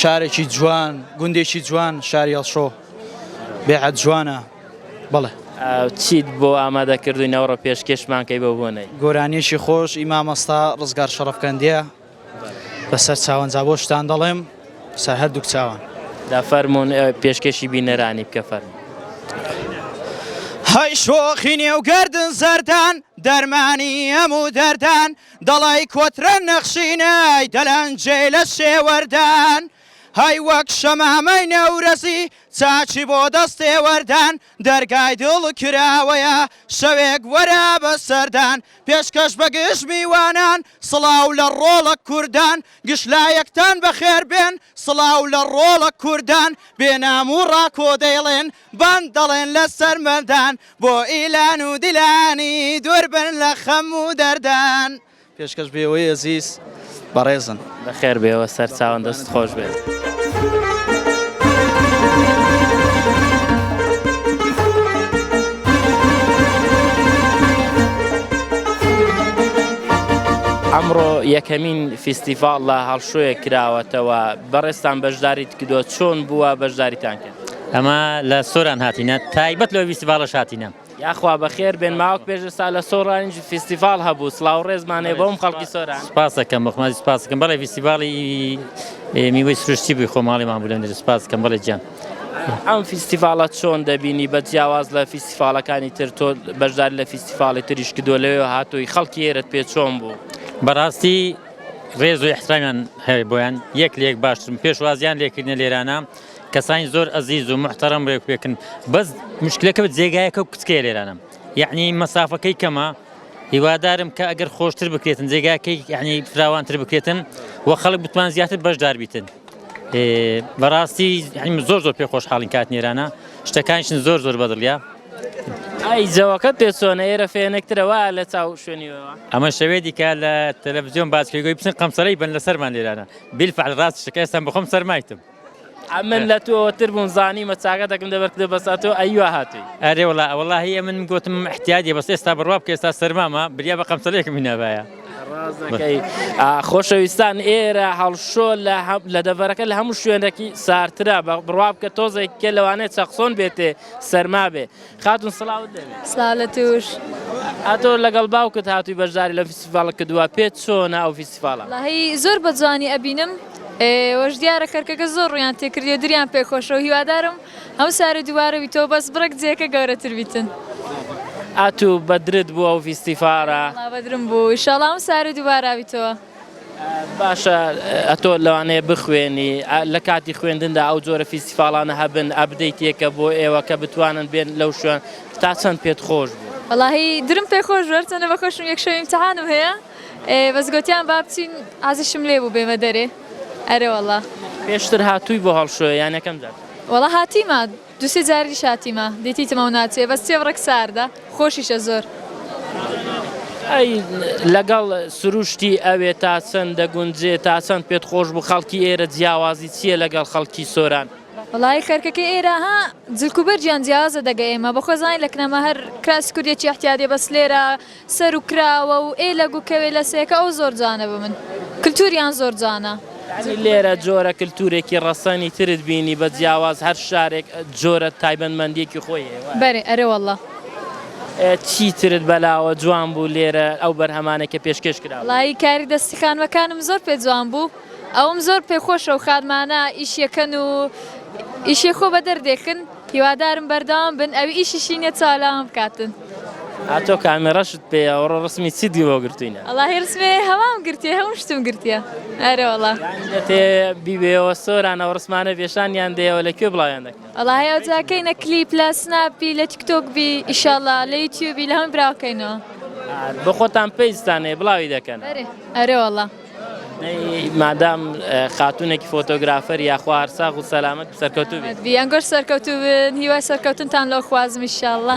شارێکی جوان گوندێکی جوان شاری هەڵشۆ بێعەت جوانە بەڵێ چیت بۆ ئامادە کردووی نەوەڕە پێشکێشمانکەی بە بۆنەی گۆرانیەکی خۆش ئیمامەستا ڕزگار شەڕفکەندە بەسەر چاوەنجا بۆ شتان دەڵێم سە هەردووک چاوان دا فەرمونون پێشکێشی بینەرانی بکە فەرم هەی شۆخی نێو گردن زەردان دەرمانی ئەم و دەردان دەڵای کۆترە نەخشینەی دەلەنجێی لە شێوەردان هەی وەک شەمامەی نەورەزی چاکی بۆ دەستێوەردان دەرگای دڵ کراوەیە شەوێک وەرە بە سەردان پێشکەش بە گشت میوانان سڵاو لە ڕۆڵە کوردان گشت لایەکتان بەخێر بێن سڵاو لە ڕۆڵە کوردان بێ نام و ڕاکۆ دەیڵێن بان دەڵێن لەسەر مردان بۆ ئیلان و دیلانی دوور بن لە خەم و دەردان. پێشکەش بێوەی ئەزیز بەڕێزن. بەخێر بێوە سەرچاوم دەست خۆش بێت. ئەمڕۆ یەکەمین فیستیڤاڵ لە هەڵشۆیە کراوەتەوە بەڕێزتان بەشداریت کردووە چۆن بووە بەشداریتان کرد؟ ئەمە لە سۆران هاتینە تایبەت لەوەی فیستیڤاڵەش هاتینە. یاخوا بەخێر بێن ماوەک پێش ئێستا لە سۆرانیش فیستیڤاڵ هەبوو سڵاو و ڕێزمان هەیە بۆ هەموو خەڵکی سۆران. سپاست دەکەم بۆ خۆمەوە سپاست دەکەم بەڵێ فیستیڤاڵی میوەی سروشتی بووی خۆماڵیمان بوو لەوێ سپاست دەکەم بەڵێ گیان. ئەم فیستیڤاڵە چۆن دەبینی بە جیاواز لە فیستیڤاڵەکانی تر تۆ بەشداری لە فیستیڤاڵی تریش کردووە لەوێوە هاتووی خەڵکی ئێرەت پێ چۆن بوو؟ بەڕاستی ڕێز و ئیحترامیان هەیە بۆیان یەک لە یەک باشترن پێشوازییان لێکردنە لێرانە کەسانی زۆر ئەزیز و موحتەرەم رێک پێکن بەس مشکلەکە جێگایەکە و کچکەیە لێرانم یعنی مەسافەکەی کەمە هیوادارم کە ئەگەر خۆشتر بکرێتن جێگاکەی یعنی فراوانتر بکرێتن و خەڵک بتوان زیاتر بەشدار بیتن بەڕاستی زۆر زۆر پێ خۆشحاڵین کات نێرانە شتەکانشن زۆر زۆر بەدڵە ئای جەوەکە پێچۆنە ئێرە فێنێکترەوە لە چاو شوێنیەوە ئەمە شەوێ دیکە لە تەلەڤزیۆن باسکەگوی بچن قەمسەرەی بن لە سەرمان لێرانە بیلفعل ڕاست شکستم بخۆم سەرمایتم ئەمن لە تۆ تر بووم زانیمە چاکەتەکم دەبەر کردە بەسا تۆ ئەیوا هاتووی. ئەرێ وەڵا وەڵاهی ئەمن گۆتم ئحتیادیە بەس ئێستا بڕوا بکە ئێستا سەرمامە بریا بە قەمسەلێکم هینابایە. ڕاست دەکەی خۆشەویستان ئێرە هەڵشۆ لە لە دەڤەرەکە لە هەموو شوێنێکی سارترە بڕوا بکە تۆزێک کێ لەوانەیە چەقسۆن بێتێ سەرما بێ. خاتون سڵاوت لێ بێ. سڵاو لە توش. ئەتۆ لەگەڵ باوکت هاتووی بەشداری لە فیستیڤاڵ کردووە پێت چۆنە ئەو فیستیڤاڵە؟ وەڵاهی زۆر بە جوانی ئەبینم وەش دیارە کەرکەکە زۆر ڕوویان تێکردیە دریان پێ خۆشە و هیوادارم هەموو سارێ دووبارە بیتەوە بەس بڕێک جێکە گەورەتر بیتن. ئەتوو بەدرت بوو ئەو فیستیفاڕە؟ وەڵا بەدرم بوو ئیشاڵا هەموو سارێ دووبارە بیتەوە. باشە ئەتۆ لەوانەیە بخوێنی لە کاتی خوێندندا ئەو جۆرە فیستیفاڵانە هەبن ئەبدەیتێکە بۆ ئێوە کە بتوانن بێن لەو شوێن تا چەند پێت خۆش بوو؟ وەڵاهی درم پێ خۆش بوو هەرچەندە بە خۆشم یەک شەوی ئیمتیحانم هەیە بەس گۆتیان با بچین عەزیشم لێ بوو بێمە دەرێ ئەرێ وەڵا. پێشتر هاتووی بۆ هەڵشۆێ یان یەکەم جار؟ وەڵا هاتیمە. دوو سێ جاریش هاتیمە دیتیتمە و ناچێ بەس چێ بڕێک ساردە خۆشیشە زۆر. ئەی لەگەڵ سروشتی ئەوێ تا چەند دەگونجێ تا چەند پێت خۆش بوو خەڵکی ئێرە جیاوازی چیە لەگەڵ خەڵکی سۆران؟ وەڵایی خەرکەکەی ئێرە ها جلکوبەرگیان جیاوازە دەگە ئێمە بەخۆزانین لە کنەمە هەر کراسی کوردێکی ئەحتیادیە بەس لێرە. سەرو کراوە و ئێ لە گوکە وێ لە سێکە ئەو زۆر جوانە بە من کلتوریان زۆر جوانە. یانی لێرە جۆرە کلتورێکی ڕەسەنی ترت بینی بە جیاواز هەر شارێک جۆرە تایبەت مەندیەکی خۆی هەیە وایە؟ بەرێ ئەرێ واللە. چی ترت بەلاوە جوان بوو لێرە ئەو بەرهەمانەی کە پێشکێش کرا بوو؟ وەڵایی کاری دەستی خانمەکانم زۆر پێ جوان بوو ئەوم زۆر پێ خۆشە و خانمانە ئیشیەکەن و ئیشێ خۆ بە دەردێکن. هیوادارم بەردەوام بن ئەوی ئیشیشی نیە چاولاوان بکاتن. ئا تۆ کامیڕەشت پێیە ئەوڕۆ ڕسمی چیت بۆ گرتوینە. وەڵاهی ڕسمی هەوام گرتیە هەموو شتم گرتیە ئەرێوەڵا. یانی دەتێ بیبەیەوە سۆران ئەو ڕسمانە بێشانیان دەیەوە لە کوێ بڵاویان دەکەی. وەڵاهی ئەوجا کەینە کلیپ لە سناپ بی لە تیکتۆک بی ئیشاڵا لە یوتیوبی لە هەمووی براوەکەینەوە. ئا بۆ خۆتان پەیجتان هەیە بڵاوی دەکەنە. ئەرێ ئەرێوەڵا. مادام خاتونێکی فۆتۆگرافەر یاخوا هەرساغ و سەلامەت سەرکەوتو بێت بیانگەر سەرکەوتو بن هیوای سەرکەوتنتان لەو خوازمی شاءله.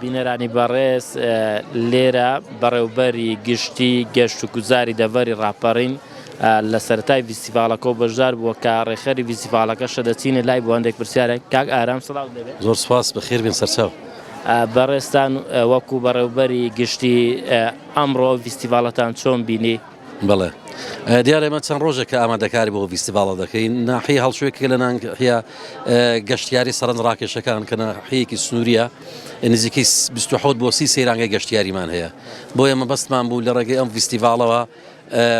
بینەرانی بەڕێز لێرە بەڕێوبەری گشتی گەشت و گوزاری دەڤەری ڕاپەڕین لە سەرەتای ڤیستیڤاڵەکەو بەشدار بووە کە ڕێکخەری ڤیستیڤاڵەکە شەدەچینە لای بۆ هەندێک پرسیارە کاک ئارام سڵاو دەبێت زۆر سپاس بەخێر بێن سەرچاو بەڕێزتان وەکو بەڕێوبەری گشتی ئەمڕۆ ڤیستیڤاڵەتان چۆن بینی؟ بەڵێ دیارە ئێمە چەند ڕۆژێک کە ئامادەکاری بۆ ڤیستیڤاڵە دەکەین ناحی هەڵچوێکی لە ناحە گەشتیاری سەرنج ڕاکێشەکان کە ناحەیەکی سنووریە نزیکی 28 بۆ سی سەیرانگەی گەشتیاریمان هەیە بۆ ئێمە بەستمان بوو لە ڕێگەی ئەم ڤیستیڤاڵەوە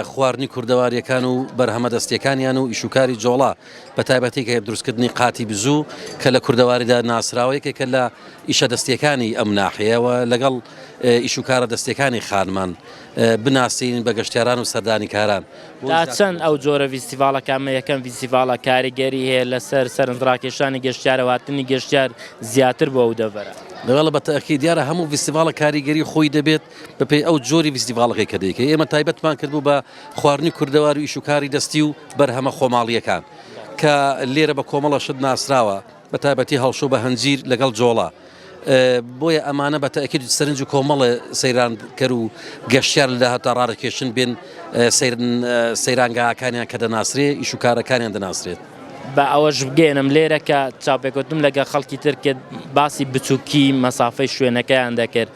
خواردنی کوردەواریەکان و بەرهەمە دەستیەکانیان و ئیشوکاری جۆڵا بە تایبەتی کە دروستکردنی قاتی بزوو کە لە کوردەواریدا ناسراوەیەکە کە لە ئیشە دەستیەکانی ئەم ناحەیەوە لەگەڵ ئیشوکارە دەستەکانی خانمان بناسین بە گەشتیاران و سەردانیکاران. تا چەند ئەو جۆرە ڤیستیڤاڵە کە ئەمە یەکەم ڤیستیڤاڵە کاریگەری هەیە لەسەر سەرنجڕاکێشانی گەشتیار و هاتنی گەشتیار زیاتر بۆ ئەو دەڤەرە؟ دەبێت بە تەئکید دیارە هەموو ڤیستیڤاڵێک کاریگەری خۆی دەبێت بەپێی ئەو جۆری ڤیستیڤاڵەکەی کە دەیکەی ئێمە تایبەتمان کردبوو بە خواردنی کوردەواری و ئیش و کاری دەستی و بەرهەمە خۆماڵییەکان کە لێرە بە کۆمەڵە شت ناسراوە. بەتایبەتی هەڵشۆ بە هەنجیر لەگەڵ جۆڵە. بۆیە ئەمانە بە تەئکید سەرنج و کۆمەڵێ سەیرانکەر و گەشتیار لە داهاتوودا ڕادەکێشن بێن سەیرانگاکانیان کە دەناسرێ، ئیش و کارەکانیان دەناسرێت. با ئەوەش بگەیەنم لێرە کە چاوپێکەوتنم لەگەڵ خەڵکی تر کرد، باسی بچووکیی مەسافەی شوێنەکەیان دەکرد.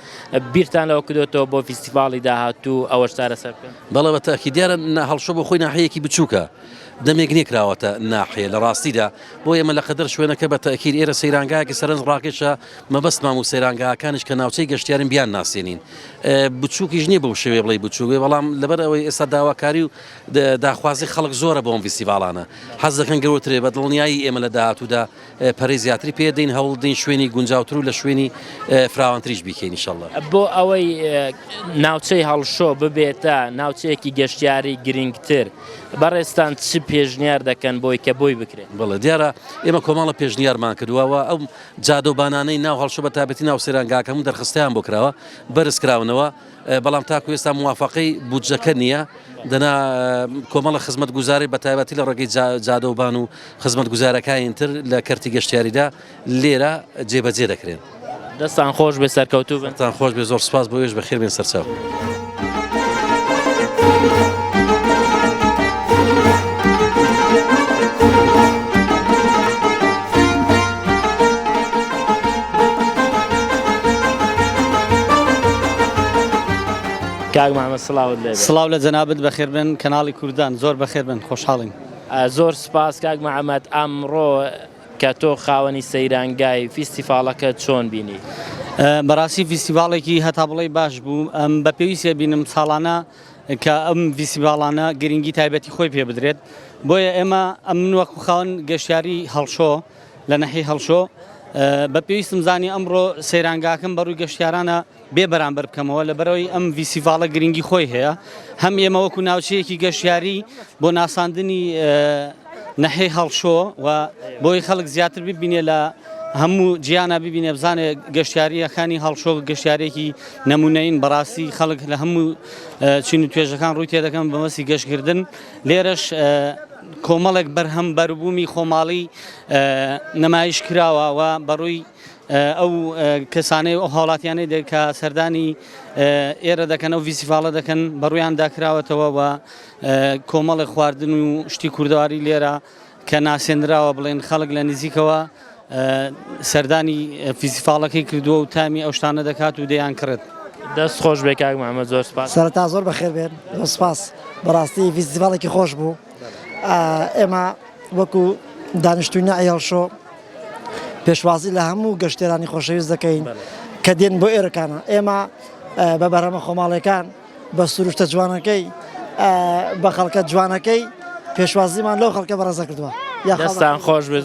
بیرتان لەوە کردۆتەوە بۆ فیستیڤاڵی داهاتوو ئەوەش چارەسەر بکەن؟ بەڵێ بە تەئکید، دیارە هەڵشۆ بۆ خۆی ناحیەیەکی بچووکە، دەمێک نێکراوەتە ناحیە، لە ڕاستیدا بۆ ئێمە لە قەدەر شوێنەکە بە تەئکید ئێرە سەیرانگایەکی سەرنج ڕاکێشە، مەبەستمان و سەیرانگاکانیش کە ناوچەی گەشتیارن بیان ناسێنین. بچووکیش نییە بەو شێوەیە بڵێی بچووک بێ، بەڵام لەبەر ئەوەی ئێستا داواکاری و داخوازی خەڵک زۆرە بۆ ئەم فیستیڤاڵانە. حەز دەکەن گەورتر بێ، بە دڵنیایی ئێمە لە داهاتوودا پەرەی زیاتری پێ دەین، هەوڵ دەین شوێنی گونجاوتر و لە شوێنی فراوانتریش بیکەین ان شاءاللە. بۆ ئەوەی ناوچەی هەڵشۆ ببێتە ناوچەیەکی گەشتیاری گرینگتر، بەڕێزتان چ پێشنیار دەکەن بۆی کە بۆی بکرێت؟ بەڵێ دیارە ئێمە کۆمەڵە پێشنیارمان کردووە و ئەو جادە و بانانەی ناو هەڵشۆ بە تایبەتی ناو سەیرانگاکە هەموو دەرخستیان بۆ کراوە بەرز کراونەوە بەڵام تاکو ئێستا موافقەی بودجەکە نییە دەنا کۆمەڵە خزمەتگوزاری بە تایبەتی لە ڕێگەی جادە و بان و خزمەتگوزارەکانی تر لە کەرتی گەشتیاریدا لێرە جێبەجێ دەکرێن. دەستان خۆش بێ سەرکەوتوو بن. سەرتان خۆش بێ زۆر سپاس بۆ ئێوەش بەخێر بێن سەرچاو. کاک مامە سلااوت لێ سلااو لە جەنابەت بەخێر بن کەناڵی کوردان زۆر بەخێر بن خۆشحاڵین زۆر سپاس کاک مەعەمەد ئەمڕۆ کە تۆ خاوەنی سەیرانگای فیستیڤاڵەکە چۆن بینی؟ بەڕاستی فیستیڤاڵێکی هەتا بڵێی باش بوو، ئەم بە پێویست ئەبینم ساڵانە کە ئەم فیستیڤاڵانە گرنگی تایبەتی خۆی پێ بدرێت، بۆیە ئێمە ئەم من وەکو خاوەن گەشتیاری هەڵشۆ لە ناحیەی هەڵشۆ بە پێویستم زانی ئەمڕۆ سەیرانگاکەم بەڕووی گەشتیارانە. بێ بەرامبەر بکەمەوە لەبەرەوەی ئەم ڤیسیڤاڵە گرنگی خۆی هەیە هەم ئێمە وەکو ناوچەیەکی گەشتیاری بۆ ناساندنی نەحەی هەڵشۆ و بۆی خەڵک زیاتر ببینێ لە هەموو جیانە ببینێ بزانێ گەشتیاریەکانی هەڵشۆ گەشتارێکی نمونەین بەڕاستی خەڵک لە هەموو چین و توێژەکان ڕووی تێدەکەم بەمەسی گەشتکردن لێرەش کۆمەڵێک بەرهەم بەربوومی خۆماڵی نمایش کراوە و بەڕووی ئەو کەسانەی و ئەو هاوڵاتیانەی دێ کە سەردانی ئێرە دەکەن ئەو ڤیسیڤاڵە دەکەن بە ڕوویان داکراوەتەوە و کۆمەڵی خواردن و شتی کوردەواری لێرە کە ناسێنراوە بڵێن خەڵک لە نزیکەوە سەردانی فیسیفاڵەکەی کردووە و تامی ئەو شتانە دەکات و دەیان کرد. دەست خۆش بێ کاک محمد زۆر سپاس سەرتا زۆر بەخێر بێن سپاس بەڕاستی فیسیڤاڵێکی خۆش بوو ئێمە وەکو دانیشتووی نەعیەڵشۆ پێشوازی لە هەموو گەشتێرانی خۆشەویست دەکەین کە دێن بۆ ئێرەکانە ئێمە بە بەرهەمە خۆماڵەکان بە سروشتە جوانەکەی بە خەڵکە جوانەکەی پێشوازیمان لەو خەڵکە بەڕێزە کردووە یاخستان خۆش بێت.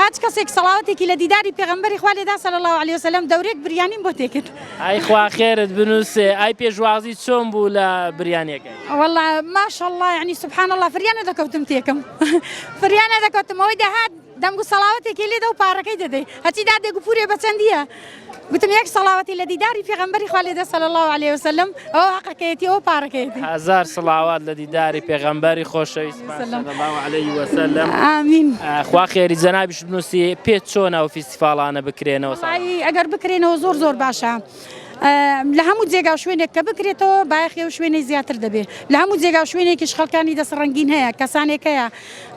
هاچ کەسێک سەڵاوەتێکی لە دیداری پێغەمبەری خوا لێدا صلی اللە علیە وسلم دەورێک بریانیم بۆ تێکرد. ئای خوا خێرت بنووسێ ئای پێشوازی چۆن بوو لە بریانیەکەی. وەڵا ماشەڵڵا یەعنی سبحان اللە فریا نەدەکەوتم تێکم فریا نەدەکەوتم ئەوەی دەهات دەنگ و سەڵاوەتێکی لێدە و پارەکەی دەدەی هەچی دادێک و پورێ بەچەندیە گوتم یەک سەڵاوەتی لە دیداری پێغەمبەری خوا لێدە صلی اللە علیە وسلم ئەوە هەقەکەیەتی ئەوە پارەکەیەتی هەزار سڵاوات لە دیداری پێغەمبەری خۆشەویست وسلم. صلی اللە علیە وسلم ئامین خوا خێری جەنابیش بنووسی پێت چۆنە ئەو فیستیفاڵانە بکرێنەوە ساڵانە؟ وەڵایی ئەگەر بکرێنەوە زۆر زۆر باشە ئە، لە هەموو جێگا و شوێنێک کە بکرێتەوە بایەخی ئەو شوێنەی زیاتر دەبێ لە هەموو جێگا و شوێنێکیش خەڵکانی دەست ڕەنگین هەیە کەسانێک هەیە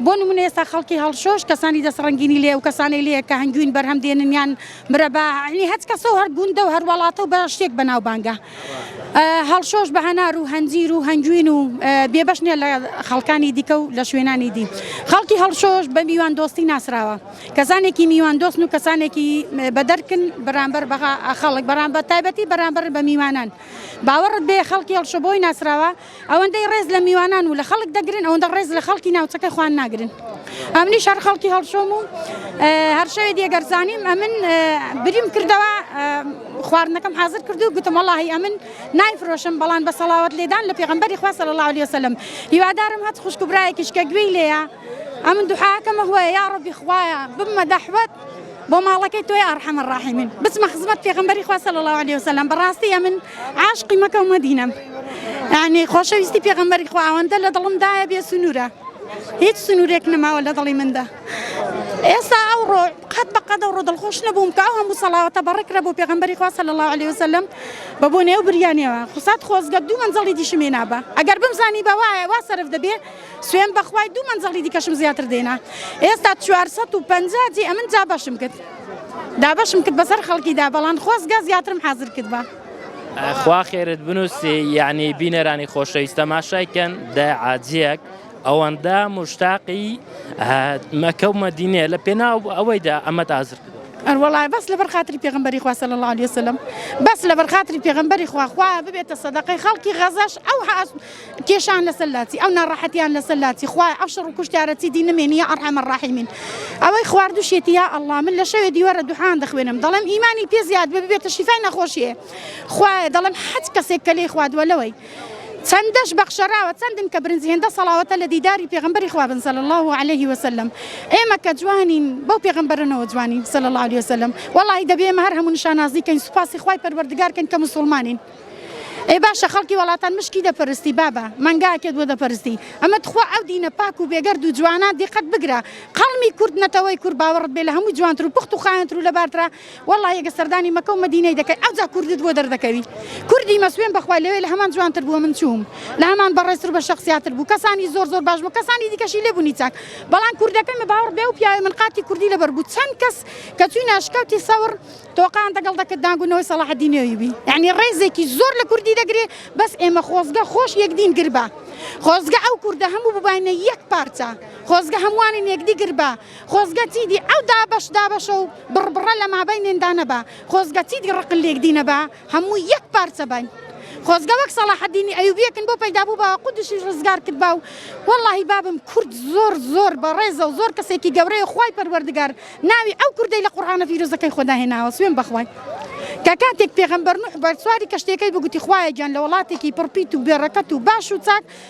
بۆ نموونە ئێستا خەڵکی هەڵشۆش کەسانی دەست ڕەنگینی لێیە و کەسانێک لێیە کە هەنگوین بەرهەم دێنن یان برا بە عەلی هەچ کەسە و هەر گوندە و هەر وەڵاتە و بە شتێک بەناوبانگە هەڵشۆش بە هەنار و هەنجیر و هەنجوین و بێبەش نیە لە خەڵکانی دیکە و لە شوێنانی دی خەڵکی هەڵشۆش بە میوان دۆستی ناسراوە کەسانێکی میوان دۆستن و کەسانێکی بەدەرکن بەرامبەر بەغا خەڵک بەرامبەر تایبەتی بەرامبەر بە میوانان باوەڕت بێ خەڵکی هەڵشۆ بۆی ناسراوە ئەوەندەی ڕێز لە میوانان و لە خەڵک دەگرن ئەوەندە ڕێز لە خەڵکی ناوچەکە خوان ناگرن ئەمنی شار خەڵکی هەڵشۆم و هەر شەوێ دیێگەرزانیم ئەمن بریم کردەوە خواردنەکەم حاضر کردو گوتم وڵی ئەمن نایفرۆشم بەڵام بە سەڵاوت لێدان لە پێغمبەری خوا سەر الله عليه وسلم هیوادارم هەت خوشکبرایەکیشکە گوێی لێە ئەمن دوحاکەمە هوە یا ڕبی خوایە بمە دەحوت بۆ ماڵەکەی تۆی ئەڕحەم الراحیمین بچمە خزمەت پێغەمبەری خوا صلی اللە علیە وسلم بەڕاستی ئەمن عاشقی مەکە و مەدینەم یعنی خۆشەویستی پێغەمبەری خوا ئەوەندە لە دڵم دایە بێ سنوورە هیچ سنوورێک نەماوە لە دڵی مندا ئێستا ئەو ڕۆ قەت بە قەدە ڕۆ دڵخۆش نەبووم کە ئەو هەموو سەڵاوەتە بەڕێکرە بۆ پێغەمبەری خوا صلی اللە علیه وسلم بە بۆ نێو بریانەوە خوسات خۆزگە دوو مەنزڵی دیشم هێنابا ئەگەر بمزانی بە وایە وا سەرف دەبێ سوێن بەخوای دوو مەنجەڵی دیکەشم زیاتر دێنا ئێستا 450 جی ئەمن جا بەشم کرد دابەشم کرد بەسەر خەڵکیدا بەڵام خۆزگە زیاترم حاضر کرد بە خوا خێرت بنووسی یعنی بینەرانی خۆشەویست تەماشایکەن دە عاجیەک ئەوەندە مشتاقی مەکە و مەدینێ لە پێناو ئەوەیدا ئەمە تازر کرد ئەروەڵای بەس لەبەر خاتری پێغمبەری خواسە لە لاالیسلم بەس لەبەر خاتری پێغمبەری خواخوا ببێتە سەدەقەی خەڵکی غەزەش ئەو کێشان لەسەر لاچی ئەو ناڕەحەتیان لەسەر لاچی خوایە ئەو شەڕ و کوشتارە چیدی نمێنی یا ئەڕحەم الراحمین ئەوەی خواردوشێتی یا ئەڵڵا من لە شەوێ دیوەرە دوحان دەخوێنم دەڵێم ئیمانی پێ زیاد بێ ببێتە شیفای نەخۆشیێ خوایە دەڵێم هەچ کەسێک کە لێی خوادوە لەوەی چەندەش بەخشەراوە چەندن کە برنج هێندە سەڵاوەتە لە دیداری پێغمبەری خوا بن صلی الله علیه وسلم ئێمە کە جوانین بەو پێغمبەرەنەوە جوانین صلی الله علیه وسلم وەڵاهی دەبێ ئێمە هەر هەموو نیشانازی کەین سوپاسی خوای پەروەردگار کەین کە مسوڵمانین ئەی باشە خەڵکی وەڵاتان مشکی دەپەرستی بابە مەنگاکێت بۆ دەپەرستی ئەمە تخوا ئەو دینە پاک و بێگەرد و جوانە دیقەت بگرە قەڵمی کورد نەتەوەی کورد باوەڕت بێ لە هەموو جوانتر و پخت و خاوێنتر و لەبارترا والله یەگە سەردانی مەکە و مەدینەی دەکەی ئەوجا کوردت بۆ دەردەکەوی کوردی مەسوێن بەخوا لەوێ لە هەمان جوانتر بووە من چووم لە هەمان بەڕێزتر و بە شەخسیاتر بوو کەسانی زۆر زۆر باش بوو کەسانی دیکەشی لێ بوونی چاک بەڵام کوردەکەمە باوەڕ بێ و پیاوی من قاتی کوردی لەبەر بوو چەند کەس کە چووینە ئەشکەوتی سەوڕ تۆقان دەگەڵ دەکت دانگونەوەی سەڵاحەدینی ئەیوبی یانی ڕێزێکی زۆر لە کوردی دەگرێ بەس ئێمە خۆزگە خۆش یەکدین گربا خۆزگە ئەو کوردە هەموو بباینە یەک پارچە خۆزگە هەمووانین یەکدی گربا خۆزگە چیدی ئەو دابەش دابەشە و بڕبڕە لە مابەینێندا نەبا خۆزگە چیدی ڕقن لێکدی نەبا هەموو یەک پارچە باین خۆزگە وەک سەڵاحەدینی ئەیوبیەکن بۆ پەیدا بوو بە قودشی ڕزگار کرد باو واللهی بابم کورد زۆر زۆر بەڕێزە و زۆر کەسێکی گەورەیە خوای پەروەردگار ناوی ئەو کوردەی لە قورآانە فیرۆزەکەی خۆدا هێناوە سوێن بەخوای کە کاتێک پێغەمبەر نوح بەرسواری کەشتێکەی بگوتی خوایە گیان لە وڵاتێکی پڕپیت و بێڕەکەت و باش و چاک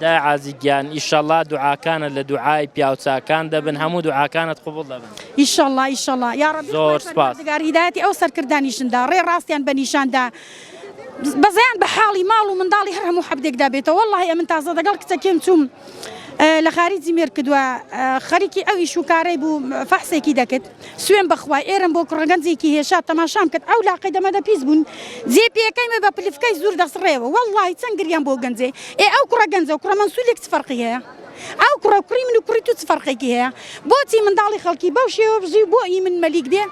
دایە عازی گیان ئیشەڵا دوعاکانت لە دوعای پیاو چاکان دەبن هەموو دوعاکانت قبوڵ دەبن. ئیشەڵا ئیشەڵا یاڕەبی خوای پەروەردگار هیدایەتی ئەو سەرکردانیشن دا ڕێ ڕاستیان بە نیشان دا بەزیان بە حاڵی ماڵ و منداڵی هەر هەموو حەبدێک دا بێتەوە وەڵاهی ئەمن تازە دەگەڵ کچەکێم چووم لە خاریجی مێرکدوە خەریکی ئەویش و کارەی بوو فەحسێکی دەکرد سوێن بەخوای ئێرەم بۆ کوڕە گەنجێکی هێشا تەماشام کرد ئەو لاقەی دەمەدە پیس بوون جێ پێکەی مە بە پلفکای زور دەسڕێەوە وەڵڵاهی چەند گریام بۆ گەنجێ ئێ ئەو کوڕە گەنجە و کوڕە مەنسولێک چ فەرقی هەیە ئەو کوڕە کوڕی من و کوڕی تو چ فەرقێکی هەیە بۆچی منداڵی خەڵکی بەو شێوە بژی بۆ ئی من مەلیک بێ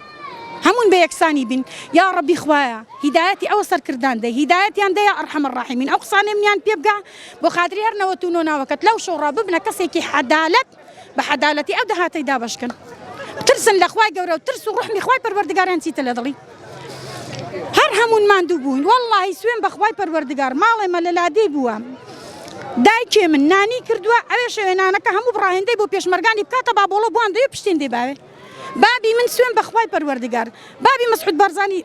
هەمون بە یەکسانی بین یا ڕەبی خوایە هیدایەتی ئەوە سەرکردان دە هیدایەتیان دەیە ئەرحەم الراحمین ئەو قسانەی منیان پێ بگا بۆ خاتری هەر نەوەت و نۆ ناوەکەت لەو شەو ڕا ببنە کەسێکی حەدالەت بە حەدالەتی ئەو دەهاتەی دابەشکەن بترسن لە خوای گەورە و ترس و ڕحمی خوای پەروەردگاریان چیتە لە دڵی هەر هەمون ماندوو بوون واللهی سوێن بەخوای پەروەردگار ماڵێ مە لە لادێ بووە دایکێ من نانی کردووە ئەوێ شەوێنانەکە هەموو بڕاهێندەی بۆ پێشمەرگانی بکاتە بابۆڵە بوان دەوێ پشتێن دێ باوێ بابی من سوێن بەخوای پەروەردگار بابی مسعود بارزانی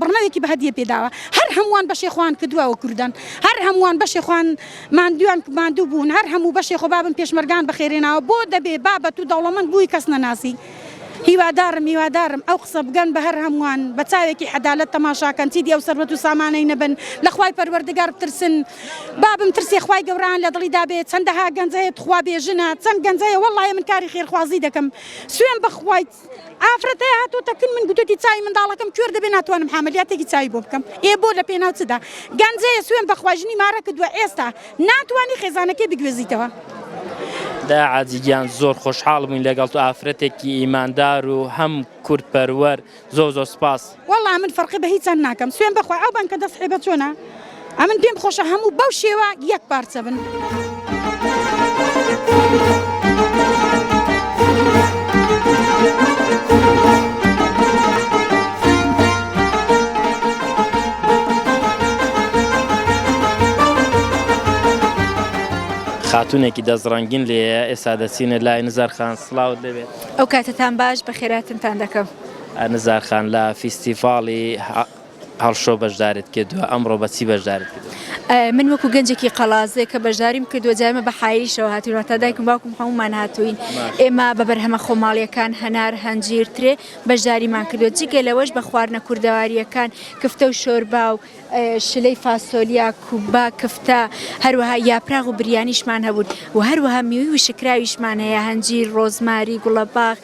بڕنەوێکی بەهەدیە پێداوە هەر هەمووان بەشێ خوان کردووەوە کوردن هەر هەمووان بەشێ خوان مادویان مادوو بوون هەر هەموو بەشێ خۆ بابم پێشمەرگان بەخێرێناوە بۆ دەبێ بابەت و دەوڵەمەند بووی کەس نەناسی هیوادارم هیوادارم ئەو قسە بگەن بە هەر هەمووان بە چاوێکی حەدالت تەماشاکەن چیدی ئەو سەروەت و سامانەی نەبن لەخوای پەروەردگار بترسن بابم ترسی خوای گەوران لە دڵی دابێ چەندەها گەنجەیە تخوا بێژنە چەند گەنجەیە وەڵی من کاری خێرخوازی دەکەم سوێن بەخوایت ئافرەتە هاتۆ تەکن من گوتەتی چای منداڵەکەم کوێر دەبێ ناتوانم حملیاتێکی چای بۆ بکەم ئێ بۆ لە پێناو چدا گەنجەیە سوێن بەخواژنی مارە کردووە ئێستا ناتوانانی خێزانەکەی بگوێزیتەوە. دا عادیگیان زۆر خۆشحاڵ بووین لەگەڵ تو ئافرەتێکی ئیماندار و هەم کورد پەروەر زۆر زۆر سپاس. وەڵا من فەرقی بە هیچان ناکەم سوێن بەخوا ئەو بنکە دەست حیبە چۆنە ئەمن پێم خۆشە هەموو بەو شێوە یەک پارچە بن. خاتونێکی دەست ڕەنگین لێیە ئێستا دەچینە لای نزار خان سڵاوت لێبێت. ئەو کاتەتان باش بەخێر هاتنتان دەکەم. نزار خان لە فیستیڤاڵی هەڵشۆ بەشداریت کردووە، ئەمڕۆ بە چی بەشداریت کردووە؟ من وەکو گەنجێکی قەڵادزێ کە بەشداریم کردووە جا ئێمە بە حایلیشەوە هاتووین واتە دایکم باوکم هەموومان هاتووین ئێمە بە بەرهەمە خۆماڵیەکان هەنار هەنجیر ترێ بەشداریمان کردووە جگە لەوەش بە خواردنە کوردەواریەکان کفتە و شۆربا و شلەی فاسۆلیا، کوبا، کفتە، هەروەها یاپراخ و بریانیشمان هەبوون و هەروەها میوەی وشککراویشمان هەیە، هەنجیر، ڕۆزماری، گوڵەباخ،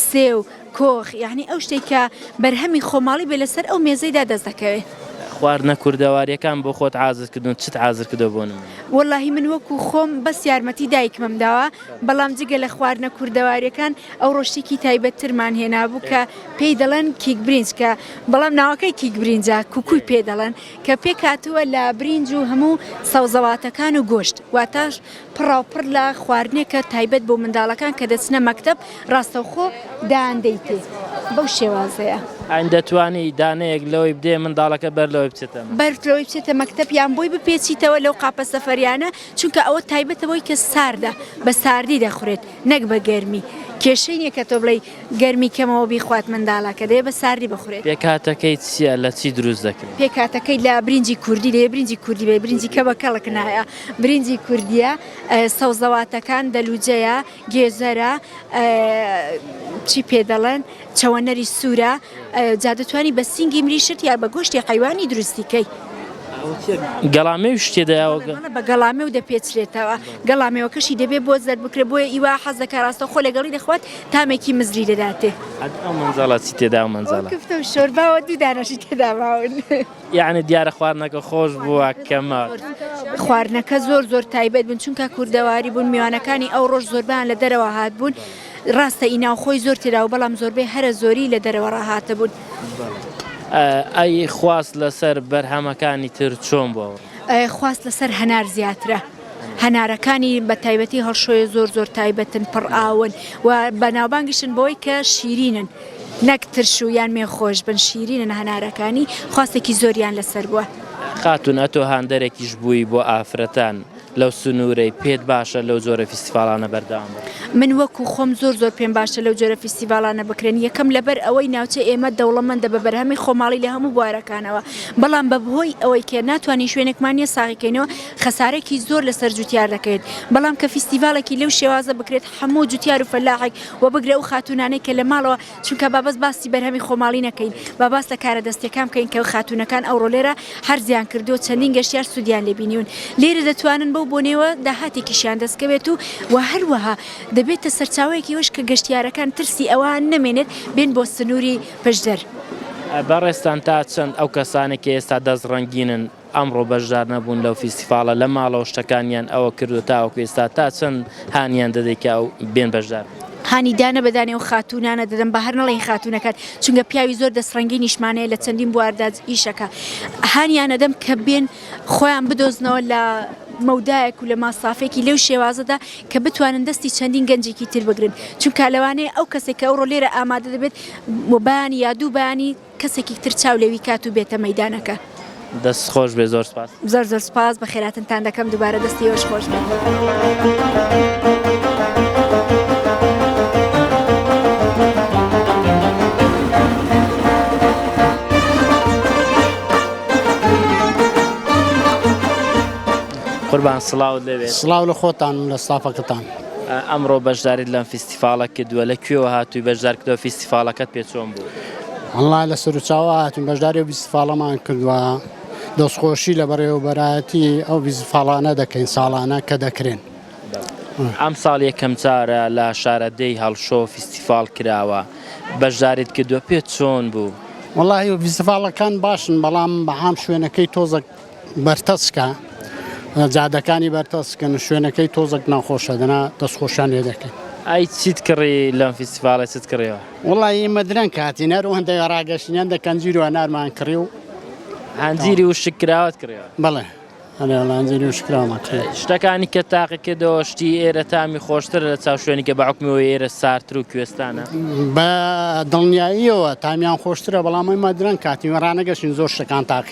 سێو، کۆخ، یانی ئەو شتەی کە بەرهەمی خۆماڵی بێ لەسەر ئەو مێزەیدا دەست دەکەوێ. خواردنە کوردەواریەکان بۆ خۆت حازر کردوون، چت حازر کردووە بۆ نموونە؟ وەڵاهی من وەکوو خۆم بەس یارمەتی دایکمم داوە، بەڵام جگە لە خواردنە کوردەواریەکان ئەوڕۆ شتێکی تایبەتترمان هێنابوو کە پێی دەڵێن کیک برینج کە، بەڵام ناوەکەی کیک برینجە کوکوی پێ دەڵێن کە پێکهاتووە لە برینج و هەموو سەوزەواتەکان و گۆشت واتە پڕاوپڕ لە خواردنێکە تایبەت بۆ منداڵەکان کە دەچنە مەکتەب ڕاستەوخۆ دان دەیتێ بەو شێوازەیە. ئاین دەتوانی دانەیەک لەوەی بدەیە منداڵەکە بەر لەوەی بچێتە مەکتەب؟ بەر لەوەی بچێتە مەکتەب یان بۆی بپێچیتەوە لەو قاپە سەفەریانە چونکە ئەوە تایبەتە بۆی کە ساردە بە ساردی دەخورێت نەک بە گەرمی کێشەی نیە کە تۆ بڵێی گەرمی کەمەوە بیخوات مندالەکە دەیە بە ساردی بخورێت. پێکهاتەکەی چیە لە چی دروست دەکرێ؟ پێکهاتەکەی لە برینجی کوردی دەیە برینجی کوردی بەیە برینجی کە بە کەڵک نایە برینجی کوردیە سەوزەواتەکان دەلوجەیە گێزەرە چی پێ دەڵێن چەوەنەری سورە جا دەتوانی بە سینگی مریشت یا بە گۆشتی حیوانی دروستی کەی. گەڵامێ و شتێ دەیاوە بە گەڵامێ و دەپێچرێتەوە گەڵامێوەکەشی دەبێ بۆ زەر بکرێ بۆیە ئیوا حەز دەکە ڕاستە خۆ لەگەڵی دەخوات تامێکی مزری دەداتێ. ئەد ئەو مەنجەڵە چی تێدا ئەو مەنجەڵە؟ ئەو کفتە و شۆرباوە دوو دانەشی تێدا ماون. یەعنی دیارە خواردنەکە خۆش بووە کە ماون. خواردنەکە زۆر زۆر تایبەت بوون چونکە کوردەواری بوون میوانەکانی ئەو ڕۆژ زۆربەیان لە دەرەوە هاتبوون ڕاستە ئی ناوخۆی زۆر تێدا و بەڵام زۆربەی هەرە زۆری لە دەرەوە ڕاهاتبوون. ئەی خواست لەسەر بەرهەمەکانی تر چۆن بووە؟ خواست لەسەر هەنار زیاترە. هەنارەکانی بە تایبەتی هەڵشۆیە زۆر زۆر تایبەتن، پڕ ئاون و بەناوبانگیشن بەوەی کە شیرینن نەک ترش و یان مێ خۆش بن شیرینن هەنارەکانی خواستێکی زۆریان لەسەر بووە. خاتوون ئەتۆ هاندەرێکیش بووی بۆ ئافرەتان لەو سنوورەی، پێت باشە لەو جۆرە فیستیڤاڵانە بەردەوام بن؟ من وەکوو خۆم زۆر زۆر پێم باشە لەو جۆرە فیستیڤاڵانە بکرێن، یەکەم لەبەر ئەوەی ناوچەی ئێمە دەوڵەمەندە بە بەرهەمی خۆماڵی لە هەموو بوارەکانەوە، بەڵام بەبهۆی ئەوەی کە ناتوانین شوێنێکمان نییە ساغی کەینەوە، خەسارێکی زۆر لەسەر جوتیار دەکەوێت، بەڵام کە فیستیڤاڵێکی لەو شێوازە بکرێت هەموو جوتیار و فەلاحێک وە بگرە ئەو خاتوونانەی کە لە ماڵەوە چونکە با بەس باسی بەرهەمی خۆماڵی نەکەین با باس لە کارە دەستیەکان بکەین کە خاتوونەکان ئەوڕۆ لێرە حەرزیان کردووە چەندین گەشتیار سوودیان لێ بینیون لێرە دەتوانن بەو بۆنەیەوە داهاتێکیشیان دەست کەوێت و وە هەروەها دەبێتە سەرچاوەیەکی ئەوەش کە گەشتیارەکان ترسی ئەوان نەمێنێت بێن بۆ سنووری پەژدەر. بەڕێزتان تا چەند ئەو کەسانەی کە ئێستا دەست ڕەنگینن ئەمڕۆ بەشدارنەبوون لەو فیستیڤاڵە لە ماڵەوە شتەکانیان ئەوە کردووە تاوەکو ئێستا تا چەند هانیان دەدەی کە ئەو بێن بەشدار؟ هانی دانە بە دانەی ئەو خاتوونانە دەدەم با هەر نەڵێین خاتوونەکان چونکە پیاوی زۆر دەستڕەنگینیشمان هەیە لە چەندین بواردا ئیشەکە هانیان ئەدەم کە بێن خۆیان بدۆزنەوە لە مەودایەک و لە ماسافێکی لەو شێوازەدا کە بتوانن دەستی چەندین گەنجێکی تر بگرن چونکە لەوانەیە ئەو کەسێک کە ئەوڕۆ لێرە ئامادە دەبێت و بەیانی یا دوو بەیانی کەسێکی تر چاو لێوی کات و بێتە مەیدانەکە. دەست خۆش بێ زۆر سپاس. زۆر زۆر سپاس بە خێراتنتان دەکەم دوبارە دەستی ئێوەش خۆش بێت. قوربان سڵاوت لێ بێت. سڵاو لە خۆتان و لە ستافەکەتان. ئەمڕۆ بەشداریت لەم فیستیفاڵە کردووە لە کوێوە هاتووی بەشدار کردووە فیستیفاڵەکەت پێ چۆن بوو؟ ئەڵا لە سەروچاوە هاتون بەشداری و بیسفاڵەمان کردووە دەستخۆشی لە بەڕێوەبەرایەتی ئەو بیزفاڵانە دەکەین ساڵانە کە دەکرێن. ئەم ساڵ یەکەم جارە لە شارەدێی هەڵشۆ فیستیفاڵ کراوە بەشداریت کردووە پێ چۆن بوو؟ وڵی ویزفاڵەکان باشن بەڵام بەعام شوێنەکەی تۆزە بەرتەسکە جادەکانی بەرتەسکن شوێنەکەی تۆزەک ناخۆشە دەنا دەستخۆشان لێ دەکەین. ئای چیت کڕی لەم فیستیڤاڵە چت کڕیوە؟ وەڵا ئیمە درەنگ هاتین هەر ئەوەندە ڕاگەشتین ئەندە کەنجیر و هەنارمان کڕی و هەنجیری وشک کراوەت کڕیوە؟ بەڵێ ئەرێ وەڵا هەنجیری وشک کراوەمان کڕیوە. شتەکانی کە تاقی کردەوە شتی ئێرە تامی خۆشترە لە چاو شوێنی کە بە حوکمی ئەوەی ئێرە ساردتر و کوێستانە؟ بە دڵنیاییەوە تامیان خۆشترە بەڵام ئیمە درەنگ هاتین ڕانەگەشتین زۆر شتەکان تاقی.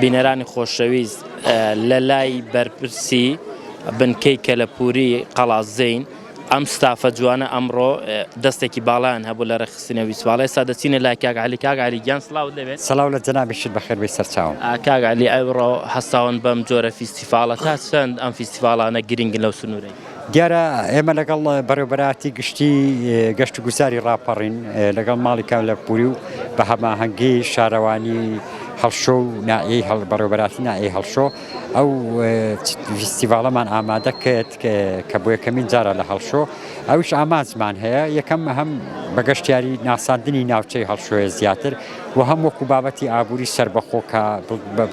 بینەرانی خۆشەویست لە لای بەرپرسی بنکەی کەلەپوری قەڵازین ئەم ستافە جوانە ئەمڕۆ دەستێکی باڵیان هەبوو لە ڕێخستنە ویسواڵ ئێستا دەچینە لای کاک علی کاک علی گیان سلااو دەبێت سلااو لە جەنابیشت بەخێر بی سەرچاو کاک علی ئەوڕۆ هەستاون بەم جۆرە فیستیفاڵە تا چەند ئەم فیستیفاڵانە گرنگن لەو سنوورەی دیارە ئێمە لەگەڵ بەڕێوەبەرایەتی گشتی گەشت و گوزاری ڕاپەڕین لەگەڵ ماڵی کاملەپوری و بە هەماهەنگی شارەوانی هەڵشۆ و نائەی هەڵ بەڕێوەبەراتی نائەی هەڵشۆ ئەو فیستیڤاڵەمان ئامادە کرد کە بۆ یەکەمین جارە لە هەڵشۆ ئەوش ئامانجمان هەیە یەکەم هەم بە گەشتیاری ناساندنی ناوچەی هەڵشۆێ زیاتر و هەم وەکو بابەتی ئابووری سەربەخۆ کە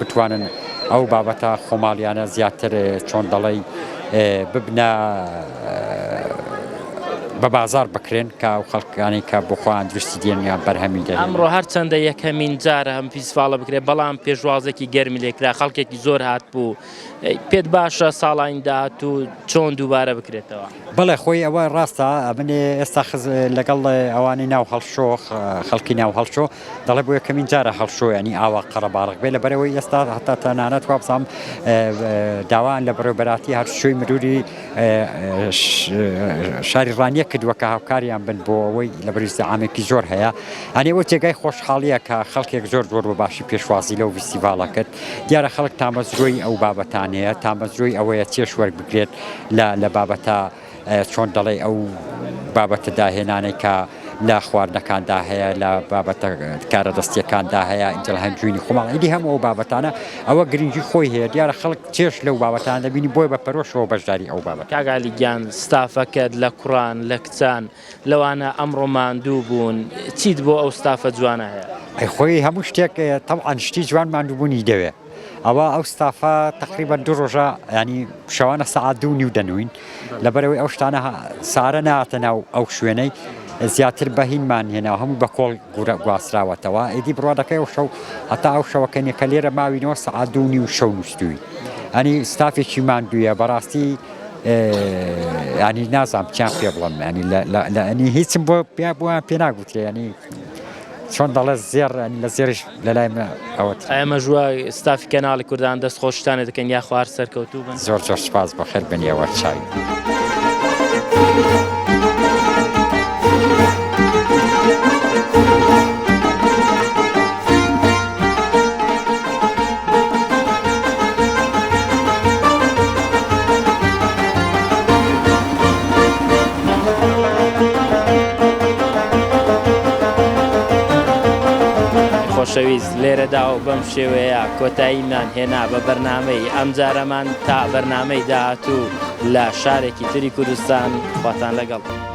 بتوانن ئەو بابەتە خۆماڵیانە زیاتر چۆن دەڵێی ببنە بە بازار بکرێن کە و خەڵکانی کە بخۆیان درستی دێنیان بەرهەمی دە ئەمڕۆ هەرچەندە یەکەمین جارە ئەم فیسفاڵە بکرێت بەڵام پێشوازێکی گەرمی لێکرا خەڵکێکی زۆر هات بوو پێت باشە ساڵانی داهاتوو چۆن دووبارە بکرێتەوە؟ بەڵێ خۆی ئەوە ڕاستە ئەمنێ ئێستا خز لەگەڵ ئەوانی ناو هەڵشۆ خەڵکی ناو هەڵشۆ دەڵێ بۆ یەکەمین جارە هەڵشۆ ینی ئاوا قەرەباڕک بێ لە بەرەوەی ئێستا هەتا تەنانەت وابزانام داوایان لە بەڕێبەراتی هەرشۆی مروری شاری ڕانیە کردووە کە هاوکاریان بن بۆ ئەوەی لە بەریزە ئامێکی زۆر هەیە ئەنێ ئەو تێگای خۆشحاڵیە کە خەڵکێک زۆر زۆر بۆ باشی پێشوازی لەو ویسیڤالە کرد دیارە خەڵک تامەزرۆی ئەو بابەتانەیە، تامەزرۆی ئەوەیە چێژ وەربگرێت لە بابەتە چۆن دەڵێی ئەو بابەتە داهێنانەی کە لە خواردنەکاندا هەیە لە بابەتە کارە دەستیەکاندا هەیە ئینجل هەنجوینی خۆماڵ ئیدی هەموو ئەو بابەتانە ئەوە گرنگی خۆی هەیە دیارە خەڵک چێش لەو بابەتان دەبینی بۆی بە پەرۆشەوە بەشداری ئەو بابەت کاگالی گیان ستافەکەت لە کوڕان لە کچان لەوانە ئەمڕۆ ماندوو بوون چیت بۆ ئەو ستافە جوانە هەیە؟ ئەی خۆی هەموو شتێک تەبعەن شتی جوان ماندووبوونی دەوێ ئەوە ئەو ستافە تقریبان دوو ڕۆژە ینی شەوانە سەعات دوو نیو دەنوین لەبەرەوەی ئەو شتانە سارە ناتە ناو ئەو شوێنەی زیاتر بەهینمان هێنا هەموو بە کۆڵ گورە گواستراوەتەوە ئیدی بڕادەکەی ئەو شەو هەتا ئەو شەوەکەنی کە لێرە ماوینەوە سەعات دوو نیو شەو نووسوی ئەنی ستافێکی ماندوویە بەڕاستی ینی نازان بچیان پێ بڵم ینی لەنی هیچم بۆ پێ بووە پێ ناگوترێ ینی چۆن دەڵێ زێر لە زێرش لەلای من ئەوە ئەمە ژوە ستافی کەناڵی کوردان دەست خۆشتانە دەکەن یا خوار سەرکەوتوو بن زۆر زۆر سپاس بە خێر بنیەوە چاوی. خۆشەویست لێرەدا و بەم شێوەیە کۆتاییمان هێنا بە بەرنامەی ئەم جارەمان تا بەرنامەی داهاتوو لە شارێکی تری کوردستان خواتان لەگەڵ.